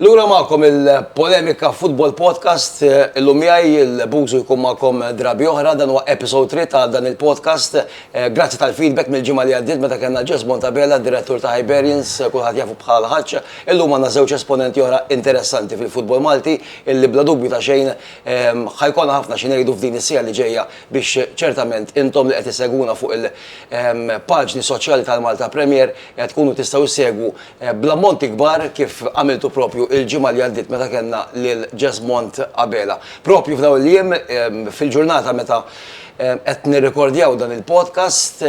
Lura magħkom il-Polemika Football Podcast. Illum miegħi il-Bużu jkun magħkom drabi oħra, dan huwa episode 3 ta' dan il-podcast. Grazzi tal-feedback mill-ġimgħa li għaddiet meta kellna Jess Bontabella, direttur ta' Hibernians, kulħadd jafu bħala l-Ħaġġ. Illum għandna żewġ esponenti oħra interessanti fil-futbol Malti illi bla dubju ta' xejn ħa jkollna ħafna xi ngħidu f'din is-siegħa li ġejja biex ċertament intom li qed issegwuna fuq il-paġni soċjali tal-Malta Premier tkunu tistgħu ssegwu bl-ammonti kbar kif għamiltu proprju il-ġimgħa li għaddiet meta kellna lil Jesmond Abela. Proprju f'dawn il-jiem, fil-ġurnata meta qed nirrekordjaw dan il-podcast,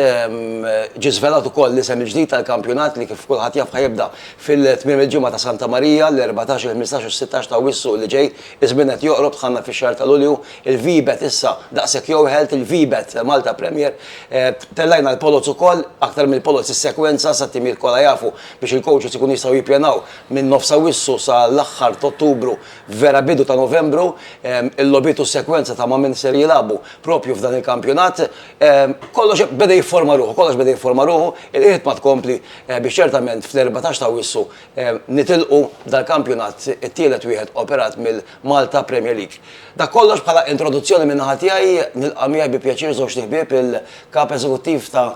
ġie żvelat ukoll l-isem il-ġdid tal-kampjonat li kif kulħadd jaf ħa jibda fil-tmiem il-ġimgħa ta' Santa Marija, l-erbatax, il-ħmistax u s-sittax ta' Awwissu li ġej, Iż-żmien qed joqrob, dħalna fix-xahar ta' Lulju, il-VBET issa daqshekk jowħelt, il-VBET Malta Premier, tellajna l-poloz ukoll, aktar mill-poloz is-sekwenza sat-timijiet kollha jafu biex il-coaches ikunu jistgħu jippjanaw minn nofs Awwissu sa l-aħħar t'Ottubru, vera bidu ta' Novembru, il-logħbiet u s-sekwenza ta' ma' min ser jilagħbu proprju f'dan il-kampjonat. Kollox beda jifforma ruħu, kollox beda jifforma ruħu, il-qiegħda tkompli biex ċertament fl-erbatax t'Awwissu Nitilqu dal-kampjonat it-tielet wieħed operat mill-Malta Premier League. Dak kollox bħala introduzzjoni min-naħa tiegħi, nilqa' miegħi bi pjaċir żewġt iħbieb il-Kap Eżekuttiv ta'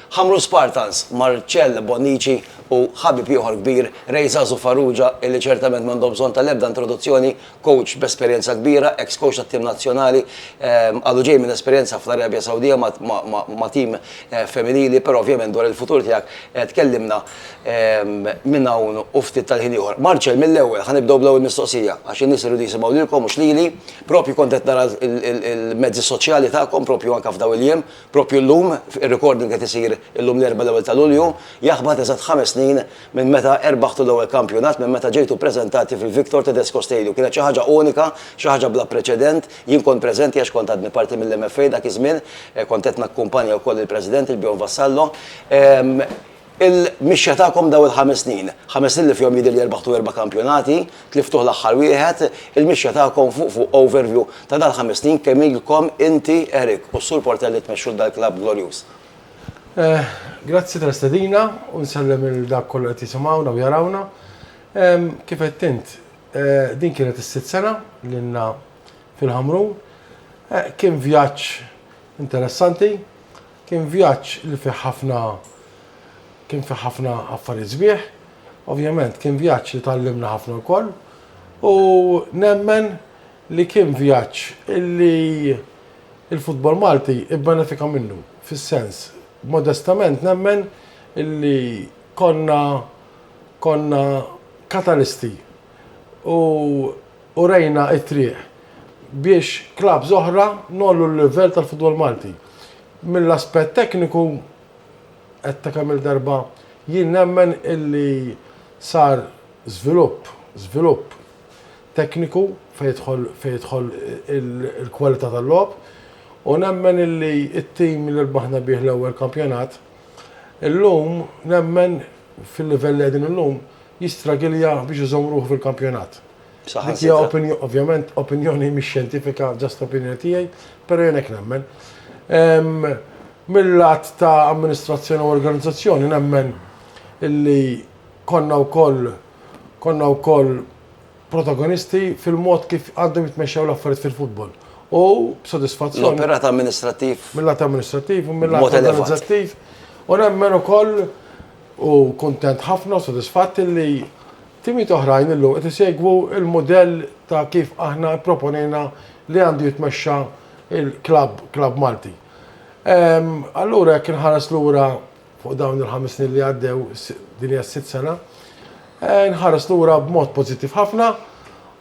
Ħamrun Spartans, Marcel Bonnici u ħabib ieħor kbir, Ray Żagħżugħ Farrugia illi ċertament m'għandhom bżonn tal-ebda introduzzjoni Kowċ b'esperjenza kbira, eks kowċ tat-tim nazzjonali, għadu ġej minn esperjenza fl-Arabja Sawdija ma' tim femminili, però ovvjament dwar il-futur tiegħek tkellimna minn hawn u ftit tal-ħin ieħor. Marcel, mill-ewwel, ħa nibdew bl-ewwel mistoqsija, għax in-nies iridu jisimgħu lilkom mhux lili, proprju kont qed nara l-mezzi soċjali tagħkom proprju anke f'dawn il-jiem, proprju llum, ir-recording qed isir illum l-Erbgħa l-ewwel ta' Lulju, jaħbat eżatt ħames snin Minn meta erbaħtu l-ewwel kampjonat, minn meta ġejtu ppreżentati fil-Victor Tedesco Stadium. Kienet xi ħaġa unika, xi ħaġa bla preċedent. Jien kont preżenti għax kont għadni parti mill-MFA dak iż-żmien. Kont qed nakkumpanja wkoll lill-President, il-Bjorn Vassallo. Il-mixja tagħkom dawn il-ħames snin, ħames snin li fihom jidhirli erbaħtu erba' kampjonati, tliftuh l-aħħar wieħed, il-mixja tagħkom fuq fuq overview ta' dawn il-ħames snin kemm ilkom inti, Eric, u s-Sur Portelli tmexxu l-dal-klabb glorjuż. Grazzi tal-istedina u nsellem il dak kollu qed jisimgħuna u jarawna. Kif qed int, din kienet is-sitt sena lilna fil-Ħamrun. Kien vjaġġ interessanti, kien vjaġġ li fih ħafna kien fih ħafna affarijiet sbieħ. Ovvjament kien vjaġġ li tgħallimna ħafna wkoll u nemmen li kien vjaġġ illi il-futbol Malti ibbenefika minnu, fis-sens, modestament nemmen illi konna konna katalisti u urejna t-triq biex clubs oħra ngħollu l-livell tal-futbol Malti. Mill-aspett tekniku, għedtha kemm-il darba, jien nemmen illi sar żvilupp, żvilupp, tekniku fejn jidħol il-kwalità tal-logħob u nemmen illi t-tim li rbaħna bih l-ewwel kampjonat illum nemmen fil-livell li qegħdin illum jistragilja biex iżomm ruħu fil-kampjonat. Dik hija ovvjament opinjoni mhix xjentifika just opinjoni tiegħi però jien hekk nemmen. Mil-lat ta' amministrazzjoni u organizzazzjoni nemmen illi konna wkoll konna wkoll protagonisti fil-mod kif għandhom jitmexxew l-affarijiet fil-futbol u b'sodisfazzjon. L-operat amministrattiv. Mill-att amministrattiv u mill-att organizzattiv. U nemmen ukoll u kuntent ħafna u sodisfatt li timijiet oħrajn illum qed isegwu l-mudell ta' kif aħna pproponejna li għandu jitmexxa l-klabb, klabb Malti. Allura jekk inħares lura fuq dawn il-ħames snin li għaddew, din hija s-sitt sena, nħares lura b'mod pożittiv ħafna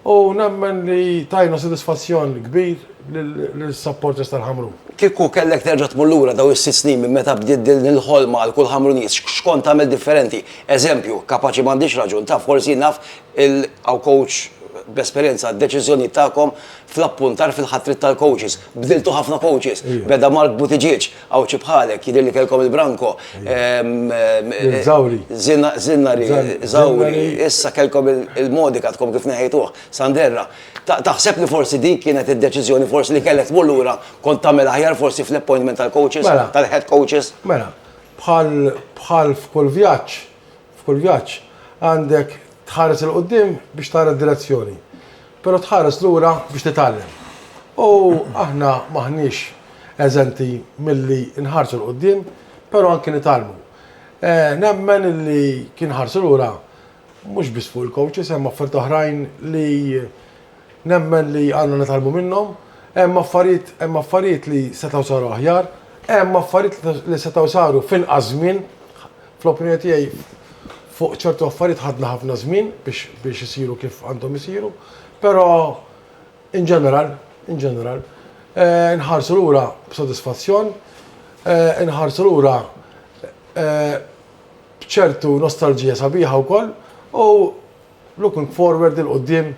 u nemmen li tajna sodisfazzjon kbir lis-supporters tal-Ħamrun. Kieku kellek terġa' tmur lura dawn is-sitt snin minn meta bdiet din il-ħolma għal kull Ħamruniż, x'kont tagħmel differenti? Eżempju, kapaċi m'għandix raġun, taf, forsi naf il, hawn kowċ bl-esperjenza, d-deċiżjonijiet tagħkom fl-appuntar fil-ħatriet tal-kowċis. Bdiltu ħafna kowċis. Beda Mark Buttigieg. Għawdxi bħalek, jidhirli kellkom il-branko. Żawri. Żinnari, żawri. Issa kellkom il-modika għadkom kif neħejtuh, Sanderra. Taħseb li forsi dik kienet id-deċiżjoni forsi li kellek tmur lura kont tagħmel aħjar forsi fl-appointment tal-coaches, tal-head coaches? Mela, bħal f'kull vjaġġ, F'kull vjaġġ għandek tħares 'il quddiem biex tara d-direzzjoni, però tħares lura biex titgħallem. U aħna m'aħniex eżenti milli nħarsu 'l quddiem, però anki nitgħallmu. Nemmen li kien ħarsu lura mhux biss fuq il-coaches, hemm affarijiet oħrajn li nemmen li għandna nitgħallmu minnhom. Hemm affarijiet, hemm affarijiet li setgħu saru aħjar, hemm affarijiet li setgħu saru f'inqas żmien. Fl-opinjoni tiegħi fuq ċertu affarijiet ħadna ħafna żmien biex isiru kif għandhom isiru, però in general, in general, eh, nħarsu lura b'sodisfazzjon, eh, nħarsu lura eh, b'ċertu nostalġija sabiħa wkoll u Looking forward 'il quddiem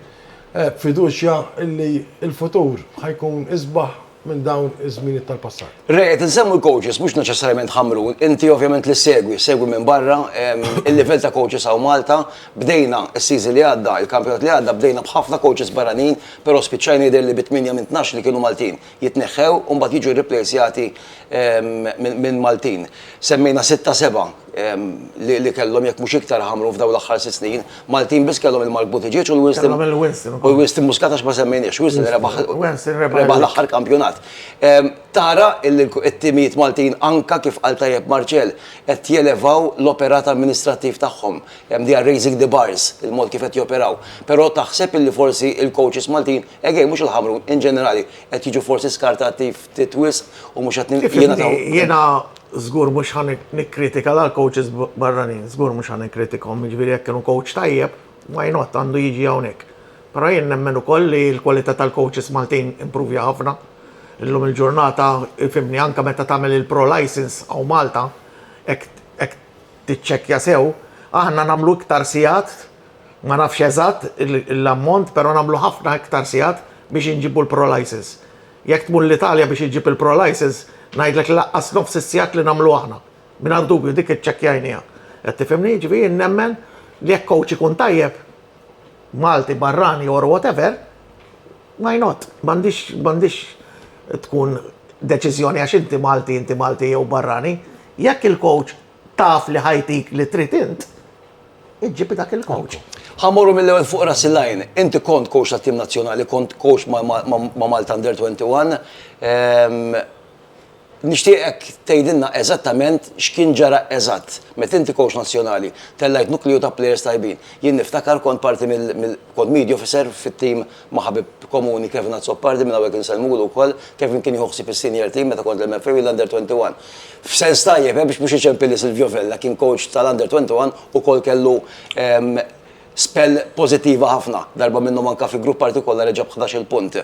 b'fiduċja illi l-futur ħa jkun isbaħ minn dawn iż-żminiet tal-passat. Re, qed insemmu l-coaches, mhux neċessarjament Ħamrun, inti ovvjament li ssegwi, segwi minn barra, il-livell ta' coaches hawn Malta, bdejna s-season li għadda, il-kampjonat li għadda bdejna b'ħafna coaches barranin, però spiċċajna jidher li bi tmienja minn tnax li kienu Maltin. jitneħħew u mbagħad jiġu rriplejsjati minn Maltin. Semmejna sitta seba' li kellhom jekk mhux iktar ħamru f'dawn l-aħħar sitt snin. Maltin biss kellhom il-Mark Buttigieg u l-Winston. Kellhom il-Winston. U l-Winston Muscat għax ma semmejniex. Winston rebaħ. Winston rebaħ. Rebaħ l-aħħar kampjonat. Tara illi t-timijiet Maltin anke kif qal tajjeb Marcel qed jelevaw l-operat amministrattiv tagħhom. They are raising the bars, il-mod kif qed joperaw. Però taħseb illi forsi l-coaches Maltin Egej, mhux il-ħamru, in ġenerali, qed jiġu forsi skartati ftit wisq u mhux qed nil- Jiena żgur mhux ħan nikkritika l coaches barranin, żgur mhux ħan nikkritikhom, jiġifieri jekk kienu coach tajjeb, why not, għandu jiġi hawnhekk. Però jien nemmen ukoll li l-kwalità tal-coaches Maltin impruvja ħafna. Illum il-ġurnata, fimni, anke meta tagħmel il-pro license hawn Malta, hekk tiċċekkja sew, aħna nagħmlu iktar sigħat Ma nafx eżatt l-ammont pero nagħmlu ħafna iktar sigħat biex inġibu l-pro-lices. Jekk tmur l-Italja biex iġġib il-pro-lices ngħidlek li laqqas nofs is-sigħat li nagħmlu aħna. Mingħajr dubju dik iċċekkjajnieha. Qed tifhimni? Jiġifieri jien nemmen li jekk coach ikun tajjeb, Malti, barrani or whatever, why not? M'għandhiex m'għandhiex tkun deċiżjoni għax inti Malti, inti Malti jew barrani. Jekk il-coach, Taf li ħajtik li trid int, iġġib dak il-coach. Ħa mmorru mill-ewwel fuq ras il-għajn. Inti kont coach tat-tim nazzjonali, kont coach ma' Malta Under 21. Nixtieqek tgħidilna eżattament x'kien ġara eżatt. Meta inti coach nazzjonali, tellajt nukliju ta' players tajbin. Jien niftakar kont parti mill, kont media officer fit-tim ma' ħabib komuni Kevin Azzopardi, minn hawnhekk insellmulu wkoll. Kevin kien jieħu ħsieb is-senior team meta kont l-MFA u l-Under 21. F'sens tajjeb, eh, biex mhux iċempi li Silvio Vella kien coach tal-Under 21 ukoll kellu spell pożittiva ħafna, darba minnhom anke fi grupp partikolari ġab ħdax-il punt.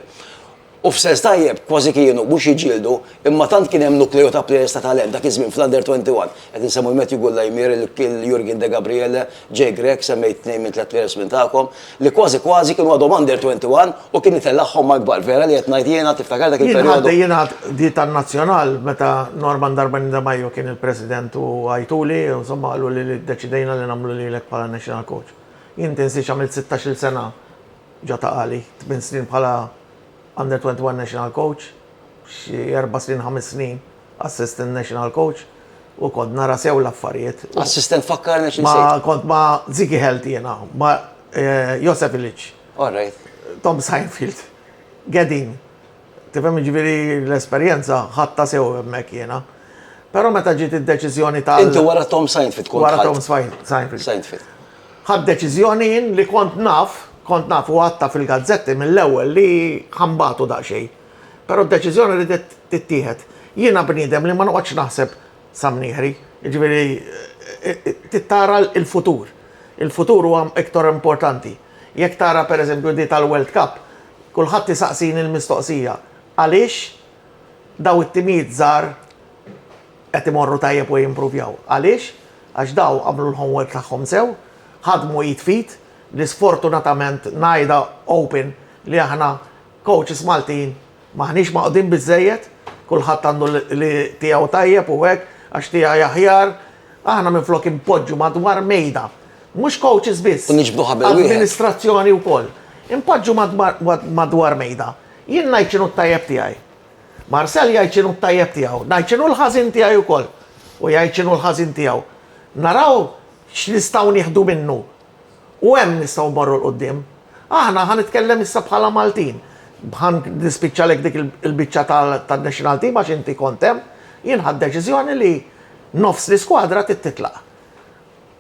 U f'sens tajjeb, kważi kienu, mhux jiġġieldu, imma tant kien hemm nukleu ta' plejers ta' talent dak iż-żmien fl-Under 21. Qed insemmu l-Matthew Gullaymir, il-Jurgen Degabriele, Jay Grech, semmejt tnejn minn tliet players minn tagħkom li kważi kważi kienu għadhom under 21 u kien itellagħhom Mark Ball, vera li qed ngħid jiena tiftakar dak il-perjodu? Jien ħadd jingħad di tan-Nazzjonal meta Norman Darbani De Maio kien il-President u għajtuli u insomma qaluli li ddeċidejna li nagħmlu lilek bħala National Coach. Jien tinsiex għamilt sittax-il sena ġo ta' Qali, tmien snin bħala under 21 National Coach, xi erba' snin ħames snin Assistant National Coach u kont nara sew l-affarijiet. Assistant fakkarna xi Ma kont ma Ziki Health jiena, ma eh, Josef Ilic. All right. Tom Seinfeld, Gedin. Tifhem ġifieri l-esperjenza ħatta sew hemmhekk jiena. Però meta ġiet id-deċiżjoni ta' Inti wara Tom Seinfeld kont Wara Tom Seinfeld. Seinfeld. Ħad deċiżjoni jien li kont naf, kont naf u għatta fil-gazzetti mill-ewwel li ħambatu daqsxejn. Però d-deċiżjoni ridet tittieħed. Jiena bniedem li ma noqgħodx naħseb sa mnieħri, jiġifieri trid tara l-futur. Il-futur huwa iktar importanti. Jekk tara pereżempju di tal-World Cup, kulħadd isaqsini l-mistoqsija, għaliex dawn it-timijiet żgħar qed imorru tajjeb u jimpruvjaw? Għaliex? Għax dawn għamlu l-homework tagħhom sew, ħadmu id f'id, li sfortunatament ngħidha open li aħna Coaches Maltin m'aħniex magħqudin biżżejjed, kulħadd għandu li tiegħu tajjeb u hekk, għax tiegħi aħjar, aħna minflok inpoġġu madwar mejda, mhux coaches biss. U niġbdu ħabel wieħed. Amministrazzjoni wkoll. Inpoġġu madwar mejda. Jien ngħid x'inhu t-tajjeb tiegħi. Marcel jgħid x'inhu t-tajjeb tiegħu. Ngħid x'inhu l-ħażin tiegħi wkoll. U jgħid x'inhu l-ħażin tiegħu. Naraw x'nistgħu nieħdu minnu U hemm nistgħu mmorru 'l quddiem. Aħna, ħa nitkellem issa bħala Maltin, ħa nispiċċalek dik il-biċċa tan-national team għax inti kont hemm, jien ħadt deċiżjoni li nofs l-iskwadra trid titlaq.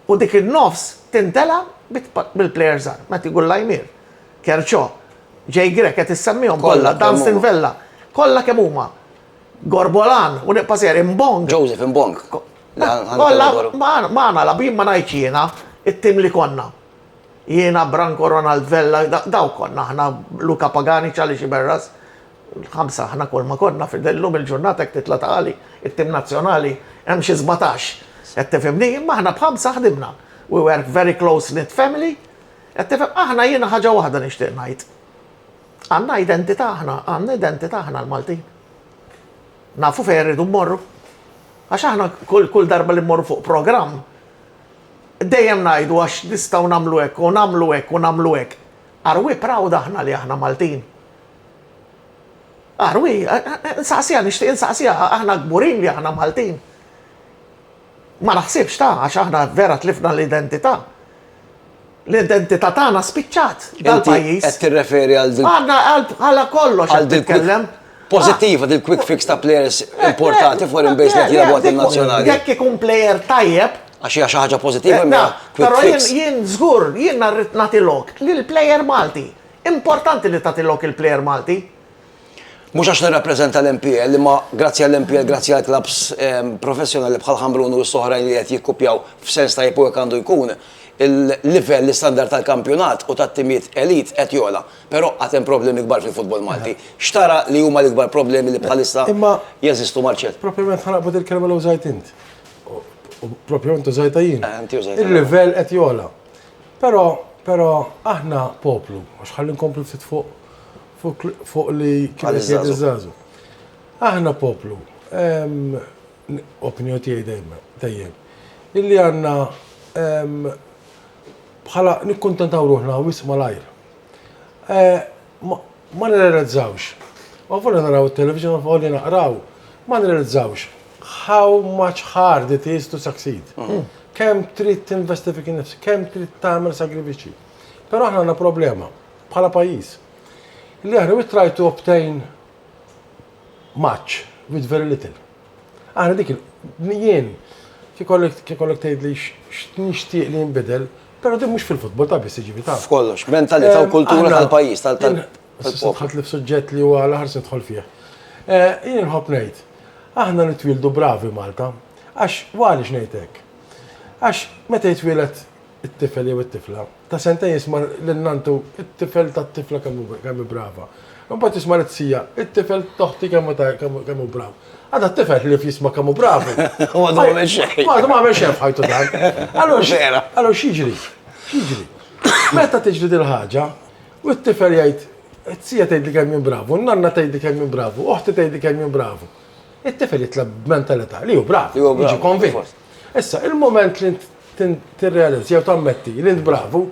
U dik in-nofs tintela' bil-plejers żgħar, Matthew Gullaijmier, Kerchò, Jay Grech qed issemmihom kollha, Dunstan Vella, kollha kemm huma. Gorbolan, u nibqa' sejjer Imbong. Joseph Imbong. Kollha magħna labin ma ngħidx jiena, it-tim li konna. Jiena, Branko, Ronald Vella, dawk konna aħna, Luca Pagani, Charlie Sciberras, ħamsa aħna kulma konna, illum il-ġurnata jekk titla' ta' Għali, it-tim nazzjonali hemm xi sbatax, qed tifhimni, imma aħna b'ħamsa ħdimna. We were very close knit family, qed tifhem, aħna jiena ħaġa waħda nixtieq ngħid. Għandna identità aħna, għandna identità aħna l-Maltin. Nafu fejn irridu mmorru. Għax aħna kull darba li mmorru fuq programm, dejjem ngħidu għax nistgħu nagħmlu hekk u nagħmlu hekk u nagħmlu hekk. Are we proud aħna li aħna Maltin? Are we? Insaqsiha, nixtieq insaqsiha, aħna kburin li aħna Maltin? Ma naħsibx ta, għax aħna vera tlifna l-identità. L-identità tagħna spiċċat dal-pajjiż. Qed tirreferi għal din. Għandna għal kollox qed titkellem. Pożittiva din quick fix ta' players importati foreign based li jilgħabu għal nazzjonali. Jekk ikun player tajjeb, Għax hija xi ħaġa pożittiva imma. Però jien żgur, jien rrid nagħti lok lill-player Malti. Importanti li tagħti lok il-player Malti. Mhux għax nirrappreżenta l-MPL, imma grazzi għall-MPL, grazzi għal klabbs professjonali bħal Ħambrun u s-oħrajn li qed jikkupjaw f'sens tajjeb u hekk għandu jkun, il-livell, l-istandard tal-kampjonat u tat-timijiet elite qed jogħla. Però għad hemm problemi kbar fil-futbol Malti. X'tara li huma l-ikbar problemi li bħalissa jeżistu Marcell? Propjament ħa naqbad il-kelma li użajt int. U propjament użajtha jien. Il-livell qed jogħla. Però, però aħna poplu, għax ħalli nkomplu ftit fuq fuq li kien qed jgħid iż-żgħażugħ. Aħna poplu, opinjoni tiegħi dejjem, dejjem, illi għandna bħala nikkuntentaw ruħna wisq malajr. Eh, ma nirrealizzawx. U għafuna naraw il-television u li naqraw, ma nirrealizzawx how much hard it is to succeed. Mm. Kem trid tinvesti fik nifs, kem trid tagħmel sagrifiċi. Però aħna għandna problema. bħala pajjiż. Li aħna we try to obtain much with very little. Aħna dik jien kikollek tgħid li nixtieq li jinbidel, però din mhux fil-futbol ta' biss jiġifieri ta'. F'kollox, mentalità u kultura tal-pajjiż tal Ħadd li f'suġġett li huwa l-aħħar se nidħol fih. Eh, jien nħobb ngħid, aħna nitwieldu bravi Malta, għax għaliex ngħid hekk. Għax meta jitwielet it-tifel jew it-tifla ta' sentejn jisma' lil nanntu, It-tifel tat-tifla kemm hu kemm hi brava. Imbagħad jisma' lit-tija, It-tifel t'oħti kemm hu ta' kemm kemm hu brav. Għada t-tifel ħlief jisma' kemm hu brav. U għadu ma għamel xejn. Għadu ma għamel xejn f'ħajtu dan. Allura x', allura x'jiġri? X'jiġri? Meta tiġri dil-ħaġa, u t-tifel jgħid, It-tija tgħidli kemm jien bravu, n-nanna tgħidli kemm jien bravu, oħti tgħidli kemm jien bravu. It-tifel jitla' b'mentalità li hu brav, jiġi konvint. Issa, il-mument li int tirrealizza jew tammetti li int bravu,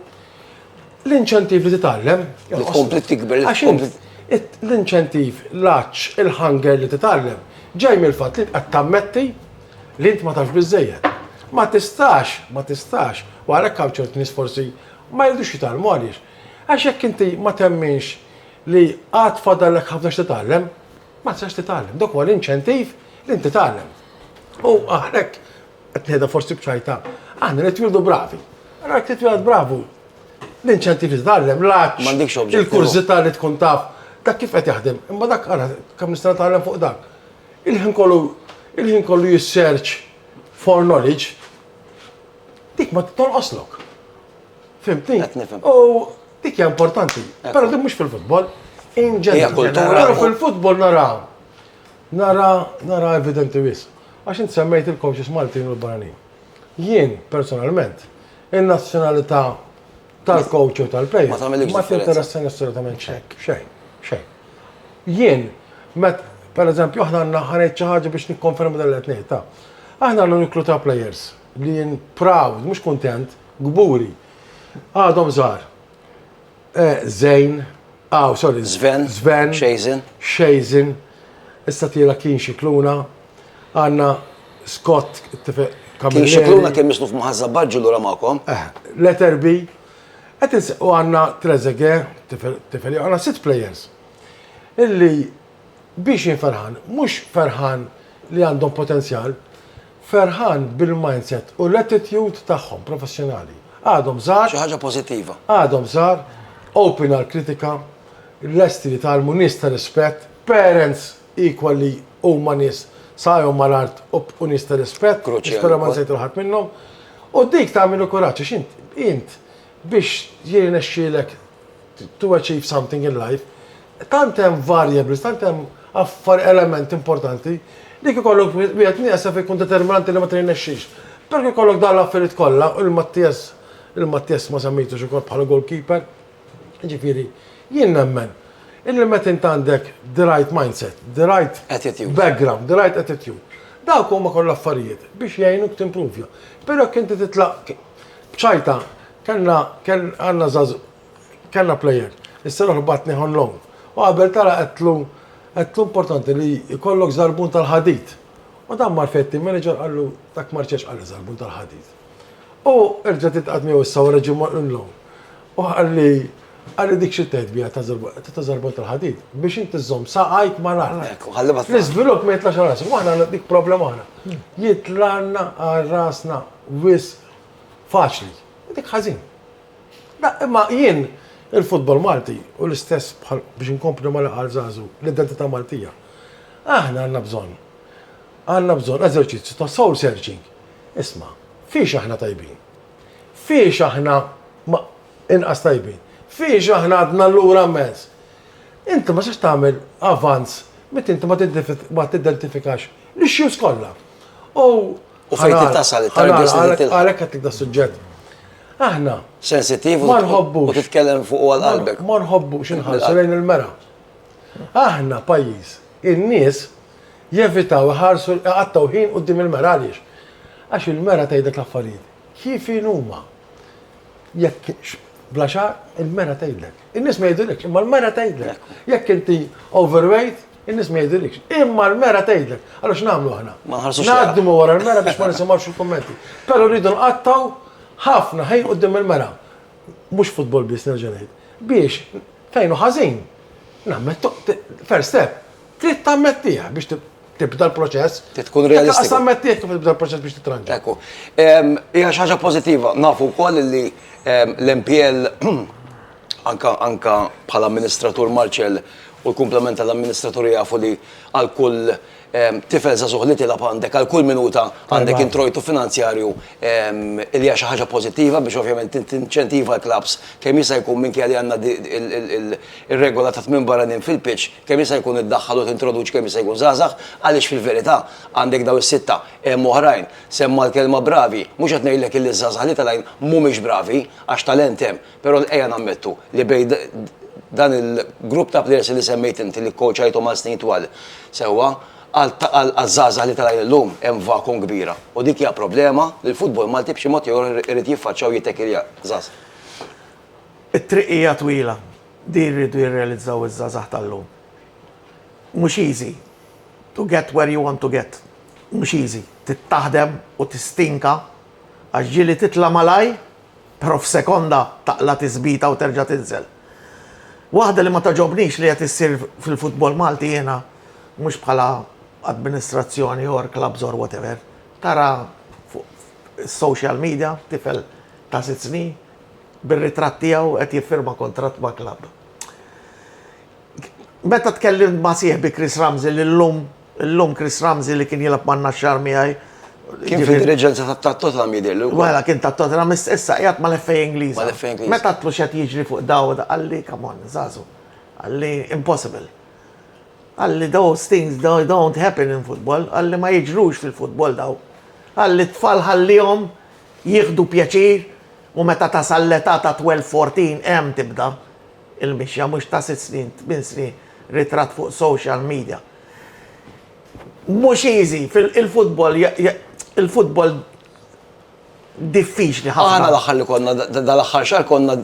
l-inċentiv li titgħallem Tkompli tikber. Għax int l-inċentiv, l-għatx, il-hunger li titgħallem ġej mill-fatt li int qed tammetti li int ma tafx biżżejjed. Ma tistax, ma tistax, u għalhekk hawn ċerti nies forsi ma jridux jitgħallmu għaliex? Għax jekk inti ma temminx li għad fadallek ħafna x'titgħallem, Ma tistax titgħallem, dak huwa l-inċentiv li inti tagħlem. U għalhekk qed ngħidha forsi b'ċajta, aħna nitwieldu bravi. Ara jekk titwieled bravu, l-inċentiv li titgħallem, l-għaġġ, il-kurżità li tkun taf, dak kif qed jaħdem. Imma dak ara kemm nista' nitgħallem fuq dak. Il-ħin kollu il-ħin kollu jissearch for knowledge, dik ma titolqoslok. Fimtni? Qed nifhem. U dik hija importanti. Però din mhux fil-futbol. In ġenerali. Fil-futbol naraw. Nara, nara evidenti wis. Għax int semmejt il-coaches Maltin u l-Barani. Jien, personalment, il-nazzjonalità tal-coach u tal-play. Ma tagħmel Ma tinteressani assolutament xejn. Xejn. Xejn. Jien, met, per eżempju, aħna għandna ħanejt xi ħaġa biex nikkonferma dan l-qed Aħna għandna niklu ta' players li jien proud, mhux kuntent, Kburi. Għadhom żgħar. Eh, Zejn, aw, ah, sorry. Zven. Zven. Xejzin. Xejzin. Issa tira kien xikluna. Għanna Scott, t-tifeq Kien xikluna kien misnuf maħazza baġġu l-ura maqom. Eh, letter B. Għet u għanna Trezege, tifel, għanna sit players. Illi biex jinferħan, mux ferħan li għandhom potenzjal, Ferħan bil-mindset u l-attitude tagħhom professjonali. Għadhom żgħar. Xi ħaġa pożittiva. Għadhom żgħar, open għall-kritika, lesti li jtgħallmu, nies ta' rispett, parents equal li huma nies saqajhom mal-art u nies ta' rispett, nispera ma nsejt lil ħadd minnhom. U dik tagħmel il-kuraġġ għax int biex jirnexxielek to achieve something in life, tant hemm variables, tant hemm affar element importanti li kikollok wieħed nieqsa fi kun determinanti li ma trinexxix. Però kikollok dan l-affarijiet kollha u l-Mattias il-Mattias ma semmejtux ukoll bħala goalkeeper. Ġifieri, jien nemmen illi meta int għandek the right mindset, the right attitude, background, the right attitude, dawk huma kollha affarijiet biex jgħinuk timprovja. Però jekk inti titlaq B'ċajta, kellna, kell, għandna żaż, kellna plejer. Is-seruħ batnieh on loan. U qabel tara qedtlu, qedtlu importanti li jkollok żarbun tal-ħadid. U dan mar fejn it-team manager qallu dak ma rċevx qalli żarbun tal-ħadid. U erġa' titqagħad miegħu issa wara ġie mor on loan. U qalli, qalli dik xi tgħid biha ta' żarbun tal-ħadid biex inti żżomm saqajk ma' raħlek. L-iżvilupp ma jitlax rasek, u aħna dik problema aħna. Jitlana għal rasna wis faċli. Dik ħażin. Imma jien il-futbol Malti u l-istess bħal biex inkompli ma' laqal żagħżu l-identità Maltija. Aħna għandna bżonn. Għandna bżonn eżerċizzju ta' soul searching. Isma', fiex aħna tajbin? Fiex aħna ma inqas tajbin? Fiex aħna għadna lura immens? Inti ma tistax tagħmel avanz meta inti ma tiddentifikax l-issues kollha. U U fejn trid tasal, it-targets li tilħaq. Għalhekk qed tibda suġġett. Aħna. Sensittiv ma nħobbu. U titkellem fuq għal qalbek. Ma nħobbu x'inħarsu lejn il-mera. Aħna pajjiż, in-nies jevitaw iħarsu iqattgħu ħin quddiem il-mera għaliex? Għax il-mera tgħidlek l-affarijiet kif inhuma. Jekk bla xagħar, il-mera tgħidlek. In-nies ma jgħidulekx, imma l-mera tgħidlek. Jekk inti overweight, in-nies ma jgħidulekx, imma l-mera tgħidlek. Allora x'nagħmlu aħna? Ngħaddu ma wara l-mera biex ma nisimgħux il-kummenti. Però rridu nqattgħu ħafna ħin quddiem il-mera. Mhux futbol biss nerġa' ngħid. Biex fejn hu ħażin, nammettu, first step, Trid tammettiha biex tibda l-proċess. Trid tkun realistiku. Trid tammettiha kif tibda l-proċess biex titranġa. Ekku. Hija xi ħaġa pożittiva. Nafu wkoll li l-MPL anka anka bħala amministratur Marċel u l-kumplament tal-amministraturi jafu li għal kull tifel żagħżugħ li tilgħab għandek għal kull minuta għandek introjtu finanzjarju li hija xi ħaġa pożittiva biex ovvjament tinċentiva l-klabbs kemm jista' jkun minkejja li għandna ir-regola ta' tmien barranin fil-pitch kemm jista' jkun iddaħħal u tintroduċi kemm jista' jkun żgħażagħ għaliex fil-verità għandek dawn is-sitta, hemm oħrajn, semma l-kelma bravi, mhux qed ngħidlek illi ż-żgħażagħ li telgħin mhumiex bravi għax talent hemm, però ejja nammettu li bejn dan il-grupp ta' plejers li semmejt inti li kkowċajthom għal snin twal sewwa, għaż-żgħażagħ li telgħin illum hemm vacuum kbira u dik hija problema li l-futbol Malti b'xi mod jew ieħor irid jiffaċċja u jittekilja. It-triq hija twila Din irridu jirrealizzaw iż-żgħażagħ tal-lum. Mhux easy to get where you want to get. Mhux easy. Trid taħdem u tistinka għax ġieli titla' malajr però f'sekonda taqla' tiżbita u terġa' tinżel. Waħda li ma togħġobnix li qed issir fil-futbol Malti jiena mhux bħala administrazzjoni or clubs or whatever, tara fuq is-social media tifel ta' sitt snin, bir-ritratt tiegħu qed jiffirma kuntratt ma' klabb. Meta tkellimt ma' sieħbi Chris Ramsey li llum illum Chris Ramsey li kien jilgħab man-Naxxar miegħi. Kien fid-diriġenza tat-Tottenham jidhirlu. Mela kien tat-Tottenham issa qiegħed mal-FA Ingliża. Mal-FA Ingliża. Meta għedtlu x'qed jiġri fuq daw qalli come on żagħżugħ. Qalli impossible. Qalli those things don't happen in football, qalli ma jiġrux fil-futbol daw. Qalli t-tfal ħallihom jieħdu pjaċir. U meta tasal l-età ta' twelve, fourteen hemm tibda l-mixja mhux ta' sitt snin, tmien snin ritratt fuq social media. Mhux easy, il-futbol il-futbol diffiċli ħafna. Aħna l-aħħar li konna dal-aħħar xahar konna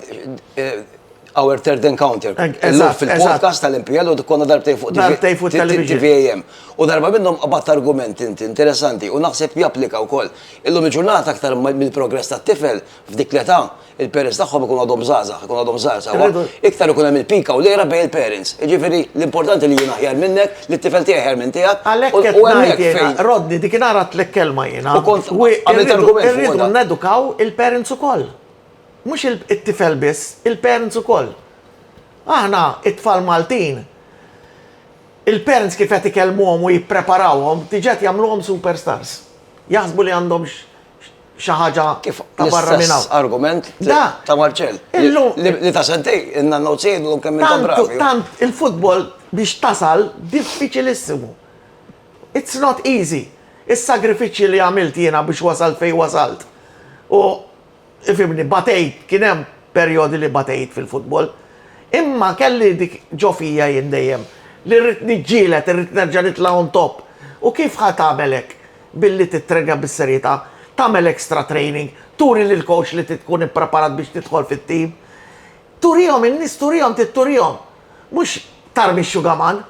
Our Third Encounter. Eżatt, fil-podcast tal-MPL u konna darbtej fuq darbtej fuq tal-VAM. U darba minnhom qabatt argument inti interessanti u naħseb japplika wkoll. Illum il-ġurnata aktar mill-progress tat-tifel f'dik l-età, il-parents tagħhom ikunu għadhom żgħażagħ, ikunu għadhom żgħar sewwa, iktar ikun hemm il-pika u l-għira bejn il-parents. Jiġifieri l-importanti li jien aħjar minnek, li t-tifel tiegħi aħjar minn tiegħek. Għalhekk qed ngħid jiena, Rodney, dik inhar għedtlek kelma jiena. U kont għamilt argument. Irridu nedukaw il-parents ukoll. Mhux it-tifel biss, il-parents ukoll. Aħna, it-tfal Maltin, il-parents kif qed ikellmuhom u jippreparawhom, diġà qed jagħmluhom superstars. Jaħsbu li għandhom xi ħaġa ta' barra minn hawn. L-istess argument ta' Marcell, li ta' sentejn ilna notes jgħidulhom kemm intom bravi. Tant il-futbol biex tasal diffiċilissimu. It's not easy. Is-sagrifiċċji li għamilt jiena biex wasalt fejn wasalt u Ifhimni, batejt, kien hemm perjodi li batejt fil-futbol. Imma kelli dik ġo fija jien dejjem, li rrid niġġieled, irrid nerġa' nitla' on top. U kif ħa tagħmel hekk? Billi tittrenja bis-serjetà, tagħmel extra training, turi lill-coach li trid tkun ippreparat biex tidħol fit-team. Turihom in-nies, turihom, trid turihom. Mhux tarmi x-xugaman.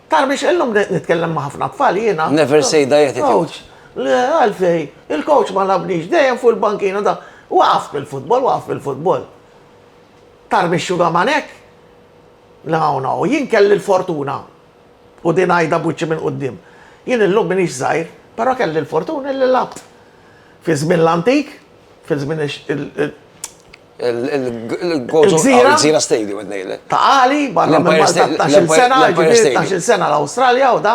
Tara biex illum nitkellem ma' ħafna tfal jiena. Never say die attitude. Coach, le għalfej, il-coach ma labnix, dejjem fuq il-bankina da. Waqaf bil-futbol, waqaf bil-futbol. Tara biex xuga manek? La, no, jien kelli l-fortuna. U din għajda buċċi minn qoddim. Jien illum minix żgħir, però kelli l-fortuna li labt. Fi żmien l-antik, fi żmien Il-Gżira. Il-Gżira Stadium qed ngħidlek. Ta' għali, barra minn Empire Malta State- 12 l-Empire- sena, l-Empire ġifieri Stadium. 12 sena l-Awstralja u da.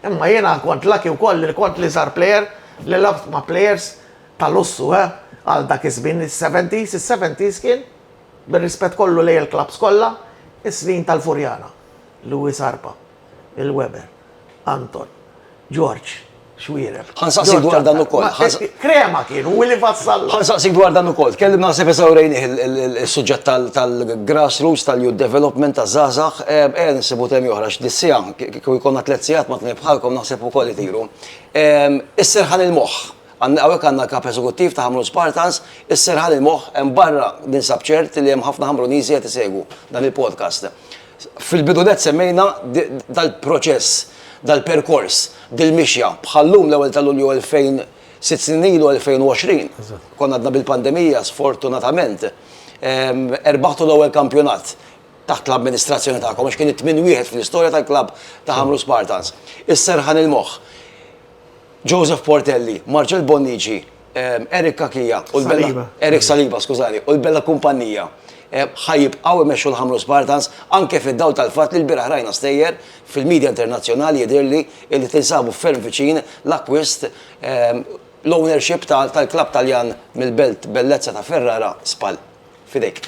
Imma jiena kont laki wkoll li kont li żgħar plejer li labt ma' plejers ta' lussu, eh, għal dak iż-żmien is-70s, is-70s kien, bir-rispett kollu lejn il-klabbs kollha, is-snin tal-Furjana, Louis Arpa. Il-Weber. Anton. Ġorġ. Xwierev. Ħa nsaqsik dwar dan ukoll. Ġorġ Antal. Ma, Krema kien, hu li fassallu. Ħa nsaqsik dwar dan ukoll. Tkellimna naħseb eżawrejnih is-suġġett tal-grassroots, tal-youth development, taż-żgħażagħ. Ejja nsibu temi oħra għax dis-siegħa, kieku jkollna tliet sigħat ma' tnejn bħalkom naħseb ukoll itiru. Is-serħan il-moħħ. Hawnhekk għandna l-Kap Eżekuttiv ta' Ħamrun Spartans. Is-serħan il-moħħ hemm barra ninsab ċert li hemm ħafna Ħamruniżi qed isegwu dan il-podcast. Fil-bidunet semmejna dal-proċess, dal-perkors, dil-mixja, bħal llum l-ewwel ta' Lulju 2000, sitt snin ilu 2020, konna għadna bil-pandemija, sfortunatament, erbaħtu l-ewwel kampjonat taħt l-amministrazzjoni tagħkom għax kien it-tmien wieħed fl-istorja tal-klabb ta' Ħamrun Spartans. Is-serħan il-moħħ, Joseph Portelli, Marcel Bonnici, Eric Cachia u l-Bella Eric Saliba, skużani, u l-Bella Kumpanija ħajibqgħu imexxu l-Ħamrun Spartans anke fid-dawl tal-fatt li l-bieraħ rajna stejjer fil-media internazzjonali jidhirli li tinsabu ferm viċin l-akkwist l-ownership tal-klabb Taljan mill-belt bellezza ta' Ferrara, Spal. F'idejk.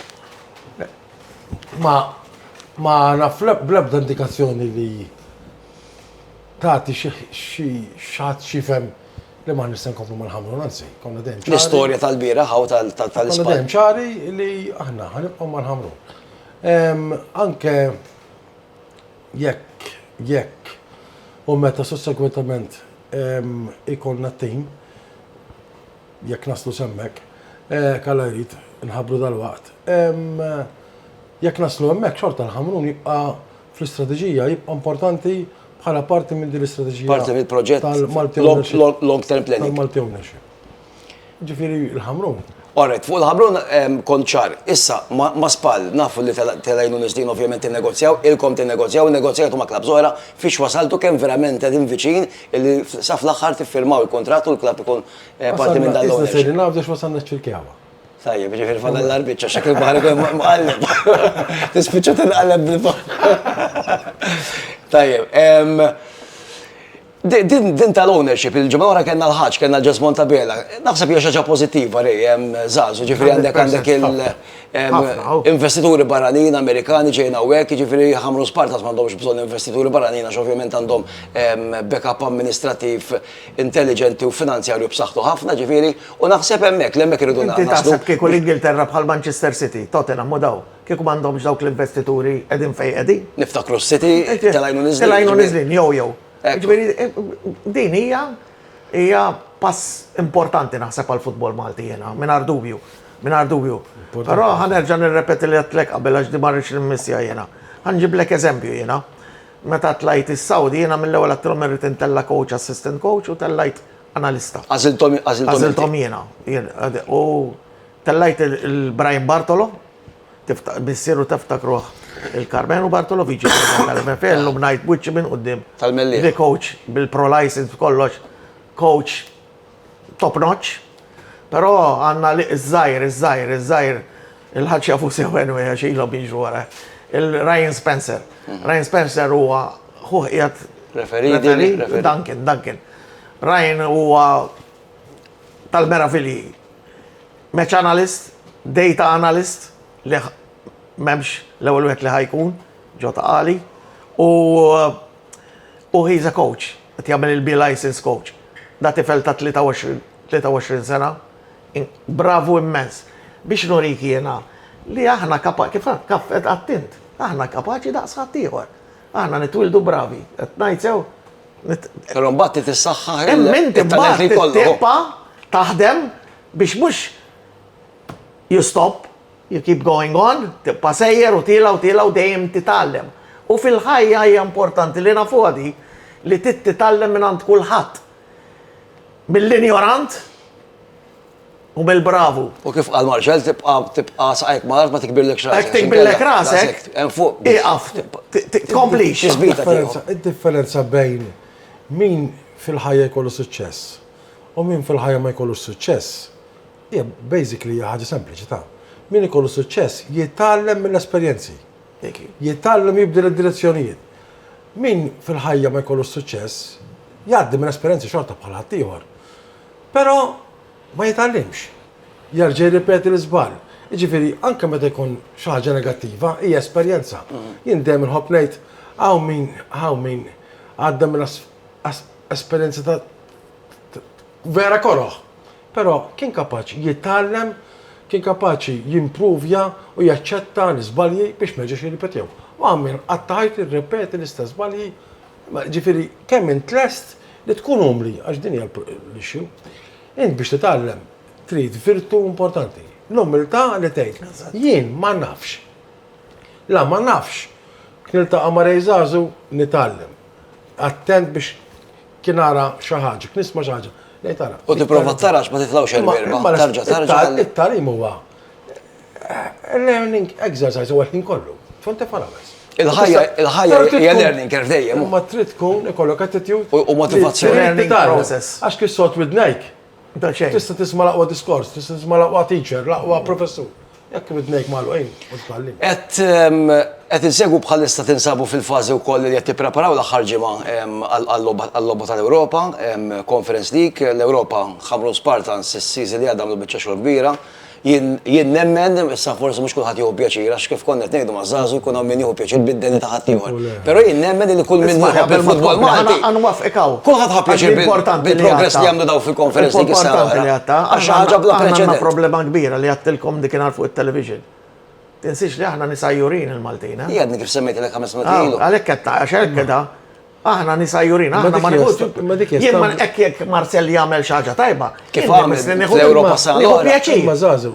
Ma naf bl-ebda indikazzjoni li tagħti xi xi ħadd xi jifhem Li m'aħniex se nkomplu ma nħammru, anzi, konna dejjem ċari. L-istorja tal-bieraħ u tal-ispan. Konna dejjem ċari li aħna ħanibqgħu ma nħammru. Anke jekk, jekk, u meta sussegwentament ikollna t-tim, jekk naslu semmek, eh, kalla jrid, nħabru dal-waqt. Jekk naslu hemmhekk xorta l-ħamrun jibqa' fl-istrateġija jibqa' importanti bħala parti minn din l-istrateġija. Parti mill-proġett tal-Malti Ownership. Long-term planning. Tal-Malti Ownership. Ġifieri l-Ħamrun. Orret, fuq il-ħabrun konċar, issa ma spal, nafu li telajnu nisdin ovvjament il-negozjaw, il-kom il-negozjaw, il-negozjatu ma klab zoħra, fiex wasaltu kem verament għedin viċin li saf l-axħar tiffirmaw il-kontrat u l-klab ikun parti minn dal-għu. Issa sejri nafdu x'wasalna ċil-kjawa. Tajjeb, ġifir fadal l-arbitċa, xek il-bahar ikun mqalleb. Tispiċċa tinqalleb bil-bahar. Tajjeb, din tal-ownership, il-ġimgħa wara kellna l-ħaġ, kellna l-ġesmon ta' bela. Naħseb hija xaġa pożittiva rej, żgħażu, ġifir għandek għandek il-investituri barranin Amerikani ġejn hawnhekk, ġifir jħammru spart għax m'għandhomx bżonn investituri barranin għax ovvjament għandhom backup amministrattiv. intelliġenti u finanzjarju b'saħħtu ħafna, ġifieri, u naħseb hemmhekk, li hemmhekk irridu naslu. Inti taħseb kieku l-Ingilterra bħal Manchester City, Tottenham u dawn, kieku m'għandhomx dawk l-investituri qegħdin fejn qegħdin? Niftakru s-City telgħin u niżlin. Telgħin u niżlin, jew jew. Ġifieri, din hija, hija pass importanti naħseb għall-futbol Malti jiena, mingħajr dubju, mingħajr dubju. Però ħa nerġa' nirrepeti li għedtlek qabel għax din ma rridx nimmissja jiena. Ħa nġiblek eżempju jiena. Meta tlajt is-Sawdi jiena mill-ewwel għedtilhom irrid intella' coach, assistant coach u tellajt analista. Għażilthom għażilthom inti? Għażilthom jiena. U tellajt il-Brian Bartolo, missieru teftakruh il-Karmenu Bartolo, viċi president tal-MFA, illum ngħid b'wiċċi minn quddiem. Tal-Mellieħa. Li coach bil-pro license b'kollox, coach top notch, però għandna li iż-żgħir, iż-żgħir, iż-żgħir il-ħaġ jafu sew anyway għax ilhom jiġru wara. Il-Ryan Spencer. Hmm. Ryan Spencer huwa ħuħ qiegħed referi Duncan, Duncan. Ryan huwa tal-meravili. Match analyst, data analyst, li memx l-ewwel wieħed li ħajkun ġo ta' għali. U uh, Hu he's a coach, qed jagħmel il-B licence coach. Da tifel ta' 23 23 sena, bravu immens. Biex nurik jiena li aħna kapa kif kaf qed qatt int, aħna kapaċi daqs ħaddieħor. Aħna nitwieldu bravi, qed ngħid sew? Però mbagħad trid issaħħaħ il-talent li jkollok. Imma inti mbagħad tibqa' taħdem biex mhux You stop, you keep going on, tibqa' sejjer u tiela' u tiela' u dejjem titgħallem. U fil-ħajja hija importanti li nafuha di li trid titgħallem mingħand kulħadd. Mill-injorant u mill-bravu. U kif qal Marshall, tibqa' tibqa' saqajk mal-art ma tikbirlekx rasek. Hekk tikbirlek rasek, ieqaf, tkomplix. Id-differenza bejn min fil-ħajja jkollu suċċess u min fil-ħajja ma jkollux suċċess, Hija basically hija ħaġa sempliċi ta', min ikollu suċċess jitgħallem mill-esperjenzi. Jitgħallem jibdel id-direzzjonijiet. Min fil-ħajja ma jkollux suċċess, jgħaddi minn esperjenzi xorta bħal ħaddieħor. Però ma jitgħallimx. Jerġa' jirripeti l-iżball. Jiġifieri anke meta jkun xi ħaġa negattiva, hija esperjenza. Jien dejjem inħobb ngħid hawn min hawn min għadda minn esperjenzi ta' vera koroh. Però kien kapaċi jitgħallem, kien kapaċi jimpruvja u jaċċetta l-iżbalji biex ma jerġax jirripetihom. U għamel qatt ta' ħajtu jirrepeti l-istess żbalji. Ġifieri kemm int lest li tkun umli, għax din hija l-issue. Int biex titgħallem trid virtu importanti, l-umiltà li tgħid jien ma nafx. La ma nafx, niltaqa' ma' Ray Żagħżugħ nitgħallem. Attent biex Kien ara xi ħaġa, kien nisma' xi ħaġa. Lej tara. U tipprova tarax ma titlgħux il-merba. Tarġa' tarġa'. It-talim huwa eh, learning exercise u għetnin kollu. Fonte farawes. Il-ħajja, il-ħajja hija learning curve dejjem. Ma trid tkun ikollok attitude. U motivazzjoni. Learning process. Għax kif sot widnejk, Ta' xejn. Tista' tisma' l-aqwa diskors, tista' tisma' l-aqwa teacher, l-aqwa professur. Jekk widnejk magħluqin, ma titgħallimx. Qed qed insegwu bħalissa tinsabu fil-fażi wkoll li qed tippreparaw l-aħħar ġimgħa għal-logħba tal-Ewropa, Conference League, l-Ewropa ħammru Spartans is-season li għadda għamlu biċċa xogħol kbira, Jien, jien nemmen, issa forsi mhux kulħadd jieħu pjaċir għax kif konna qed ngħidu maż-żagħżugħ jkun hawn min jieħu pjaċir bid-deni ta' ħaddieħor. Però jien nemmen li kull min jieħu ħabb il-futbol Malti. Għan wafqek hawn. Kulħadd ħa pjaċir bil-progress li għamlu daw fil-konferenz dik is-sena. Għax ħaġa bla preċedent. Għandna problema kbira li għattilkom dik inhar fuq it-television. Tinsiex li aħna nisajjurin il-Maltina. Jgħadni kif semmejt l-ek ħames minuti. Għalek ketta, għax hekk keda, Aħna nisa jurin, aħna ma nħux. Ma dik jien ma hekk jekk Marcel jagħmel xi ħaġa tajba. Kif għamel l-Ewropa sa. Nieħu pjaċir. Ma żażu.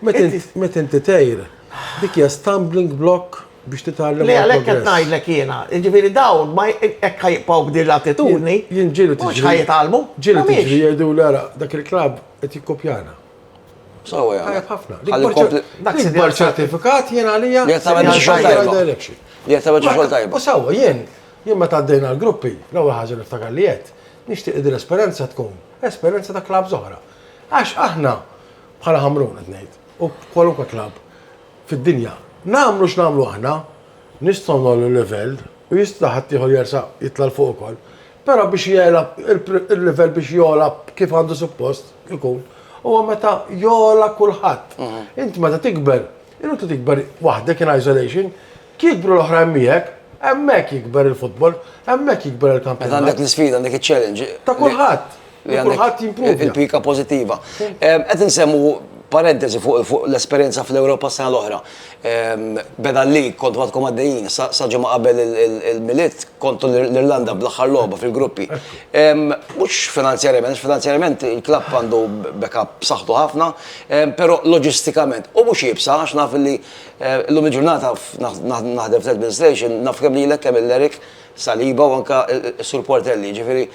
Meta inti tgħir, dik hija stumbling block biex titgħallem. Le għalhekk qed ngħidlek jiena. Jiġifieri dawn ma hekk ħajbqgħu b'din l-attitudni. Jien ġielu tiġri. Mhux ħajtgħallmu. Ġielu tiġri jgħidu l-ara dak il-klabb qed jikkopjana. Sawa jgħamil. Tajab ħafna. L-ikbar ċertifikat jien għalija. Li jgħamil biex xol tajba. Li jgħamil biex xol tajba. U sawa, jien, jien ma taddejna l-gruppi, l-ewwel ħaġa niftakar li jett, nixtieq id l-esperenza tkun, esperenza ta' klab zoħra. Għax aħna, bħala ħamrun qed ngħid, u kwalunkwe klab fid-dinja, nagħmlu x'nagħmlu aħna, nistgħu nollu l-livell u jista' ħadd ieħor jersa' jitla' l fuq ukoll. Però biex jegħla il-livell biex jogħla kif għandu suppost ikun, huwa meta jogħla kulħadd. Int meta tikber, inutli tikber waħdek in isolation, jikbru l-oħrajn miegħek, hemmhekk jikber il-futbol, hemmhekk jikber il-kampjonat. Meta għandek l-isfida, għandek iċ-challenge. Ta' kulħadd. li kulħadd jimpruvja. Il-pika pożittiva. Qed insemmu parentesi fuq l-esperjenza fl-Ewropa sena l-oħra. Beda li kont għadkom għaddejjin, sa ġimgħa qabel il-Milied kontu l-Irlanda bl-aħħar logħba fil-gruppi. Mhux finanzjarjament, finanzjarjament il-klabb għandu backup b'saħħtu ħafna, però loġistikament u mhux iebsa għax naf li llum il-ġurnata naħdem fl-administration, naf kemm lilek kemm lil Eric, Saliba u anke s-Sur Portelli, jiġifieri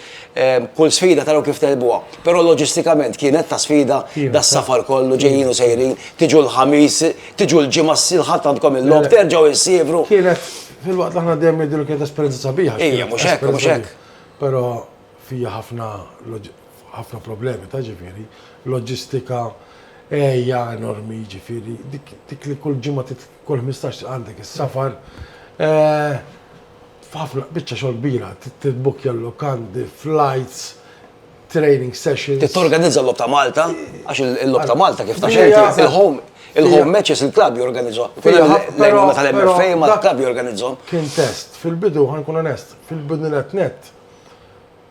kull sfida taraw kif tegħlbuha. Però loġistikament kienet ta' sfida das-safar kollu, ġejjin u sejrin, tiġu l-Ħamis, tiġu l-Ġimgħa, s-Lħadd għandkom il-logħob, terġgħu issievru. Kienet, filwaqt li aħna dejjem ngħidu li kienet esperjenza sabiħa. Hija, mhux hekk, mhux hekk. Però fiha ħafna ħafna problemi ta' jiġifieri loġistika, għeja enormi jiġifieri dik li kull ġimgħa Kull ħmistax għandek is-safar. F'ħafna, biċċa xogħol kbira, tibbukkja l-lukandi, flights, training sessions. Trid torganizza l-Logħob ta' Malta, għax il-Logħob ta' Malta kif taf inti, il-home il-home matches il-klabb jorganizzhom. L-għajnuna tal-MFA ma l-klabb jorganizzhom. Kien test, fil-bidu ħankun onest, fil-bidu net net,